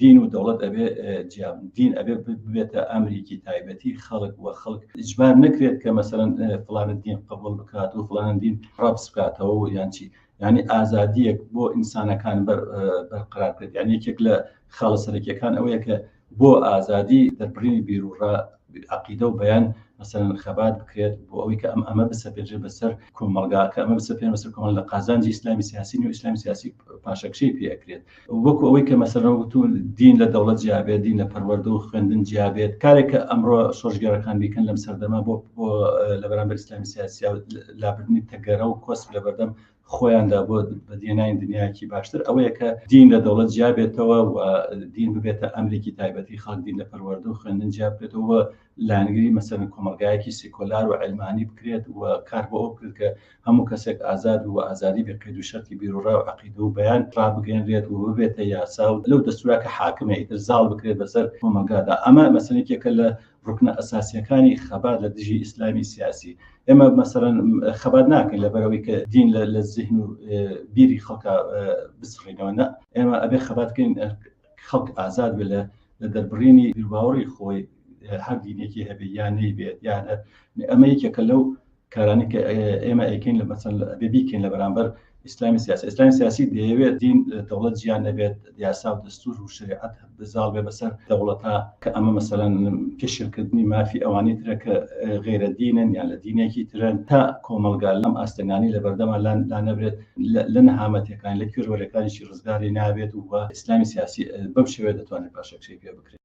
دین و دەوڵەت ئەبێ جیا بن، دین ئەبێ ببێتە ئەمریکی تایبەتی خەڵک و خەڵک ئیجبار نەکرێت کە مەسەلەن فڵانە دین قبوڵ بکات و فڵانە دین ڕەفز بکاتەوە و یان چی یعنی ئازادیەک بۆ ئینسانەکان بەرقرار بکرێت یان یەکێک لە خاڵە سەرەکیەکان ئەوەیە کە بۆ ئازادی دەربڕینی بیرروڕا عەقیدە و بیان مەسەلەن خەبات بکرێت بۆ ئەوەی کە ئەم ئەمە بسەپێنرێت بەسەر کۆمەڵگا کە ئەمە بسەپێنرێت بەسەر کۆمەڵگا لە قازانجی ئیسلامی سیاسی نیە و ئیسلامی سیاسی پاشەکشەی پێ ئەکرێت وەکو ئەوەی کە مەسەلەن وتوون دین لە دەوڵەت جیا بێت دین لە پەروەردە و خوێندن جیا بێت کارێک کە ئەمڕۆ شۆڕشگێڕەکان بیکەن لەم سەردەمە بۆ لە بەرامبەر ئیسلامی سیاسی و لابردنی تەگەرە و کۆسپ لە بەردەم خۆیاندا بۆ بەدیهێنانی دنیایەکی باشتر ئەوەیە کە دین لە دەوڵەت جیا بێتەوە و دین ببێتە ئەمریکی تایبەتی خەڵک دین لە پەروەردە و خوێندن جیا بکرێتەوە لایەنگری مەسەن کۆمەلگایەکی سیکۆلار و علمانی بکرێت و کار بۆ ئەو بکرێت کە هەموو کەسێک ئازاد و ئازادی بێ قەید و شەرتی بیروڕا و عەقیدە و بەیان ڕابگەێنرێت و ببێتە یاسا و لەو دەستورا کە حاکمە ئیتر زاڵ بکرێت بەسەر کۆمەلگادا ئەمە مەسەلێکێکە لە ڕوکنە ئەساسیەکانی خەبات لە دژی ئیسلامی سیاسی ئێمە مەسەرەن خەبات ناکەین لە بەرەوەی کە دین لە زیهن و بیری خەڵکە بسڕینەوە نە ئێمە ئەبێ خەباتکەین خەڵک ئازاد بێ لە لە دەربڕینی باوەڕی خۆی هەر دینێکی هەبێ یانەی بێت یانە ئەمە یەکێکە لەو کارانەی کە ئێمە ئەیکەین لە مەسەن ئەبێ بیکەین لە بەرامبەر ئیسلامی سیاسی ئیسلامی سیاسی دەیەوێت دین دەوڵەت جیان نەبێت یاسا و دەستور و شریعەت بزاڵ بێ بەسەر دەوڵەتا کە ئەمە مەسەلەن پێشلکردنی مافی ئەوانی ترە کە غێرە دینن یان لە دینێکی ترن تا کۆمەلگا لەم ئاستەنگانی لە بەردەمان لان لا نەبێت لە نەهامەتەکان لە کوێرەکانیشی ڕزگاری نابێت و ئیسلامی سیاسی بەم شێوێ دەتوانێت پاشەکشەی پێ بکرێت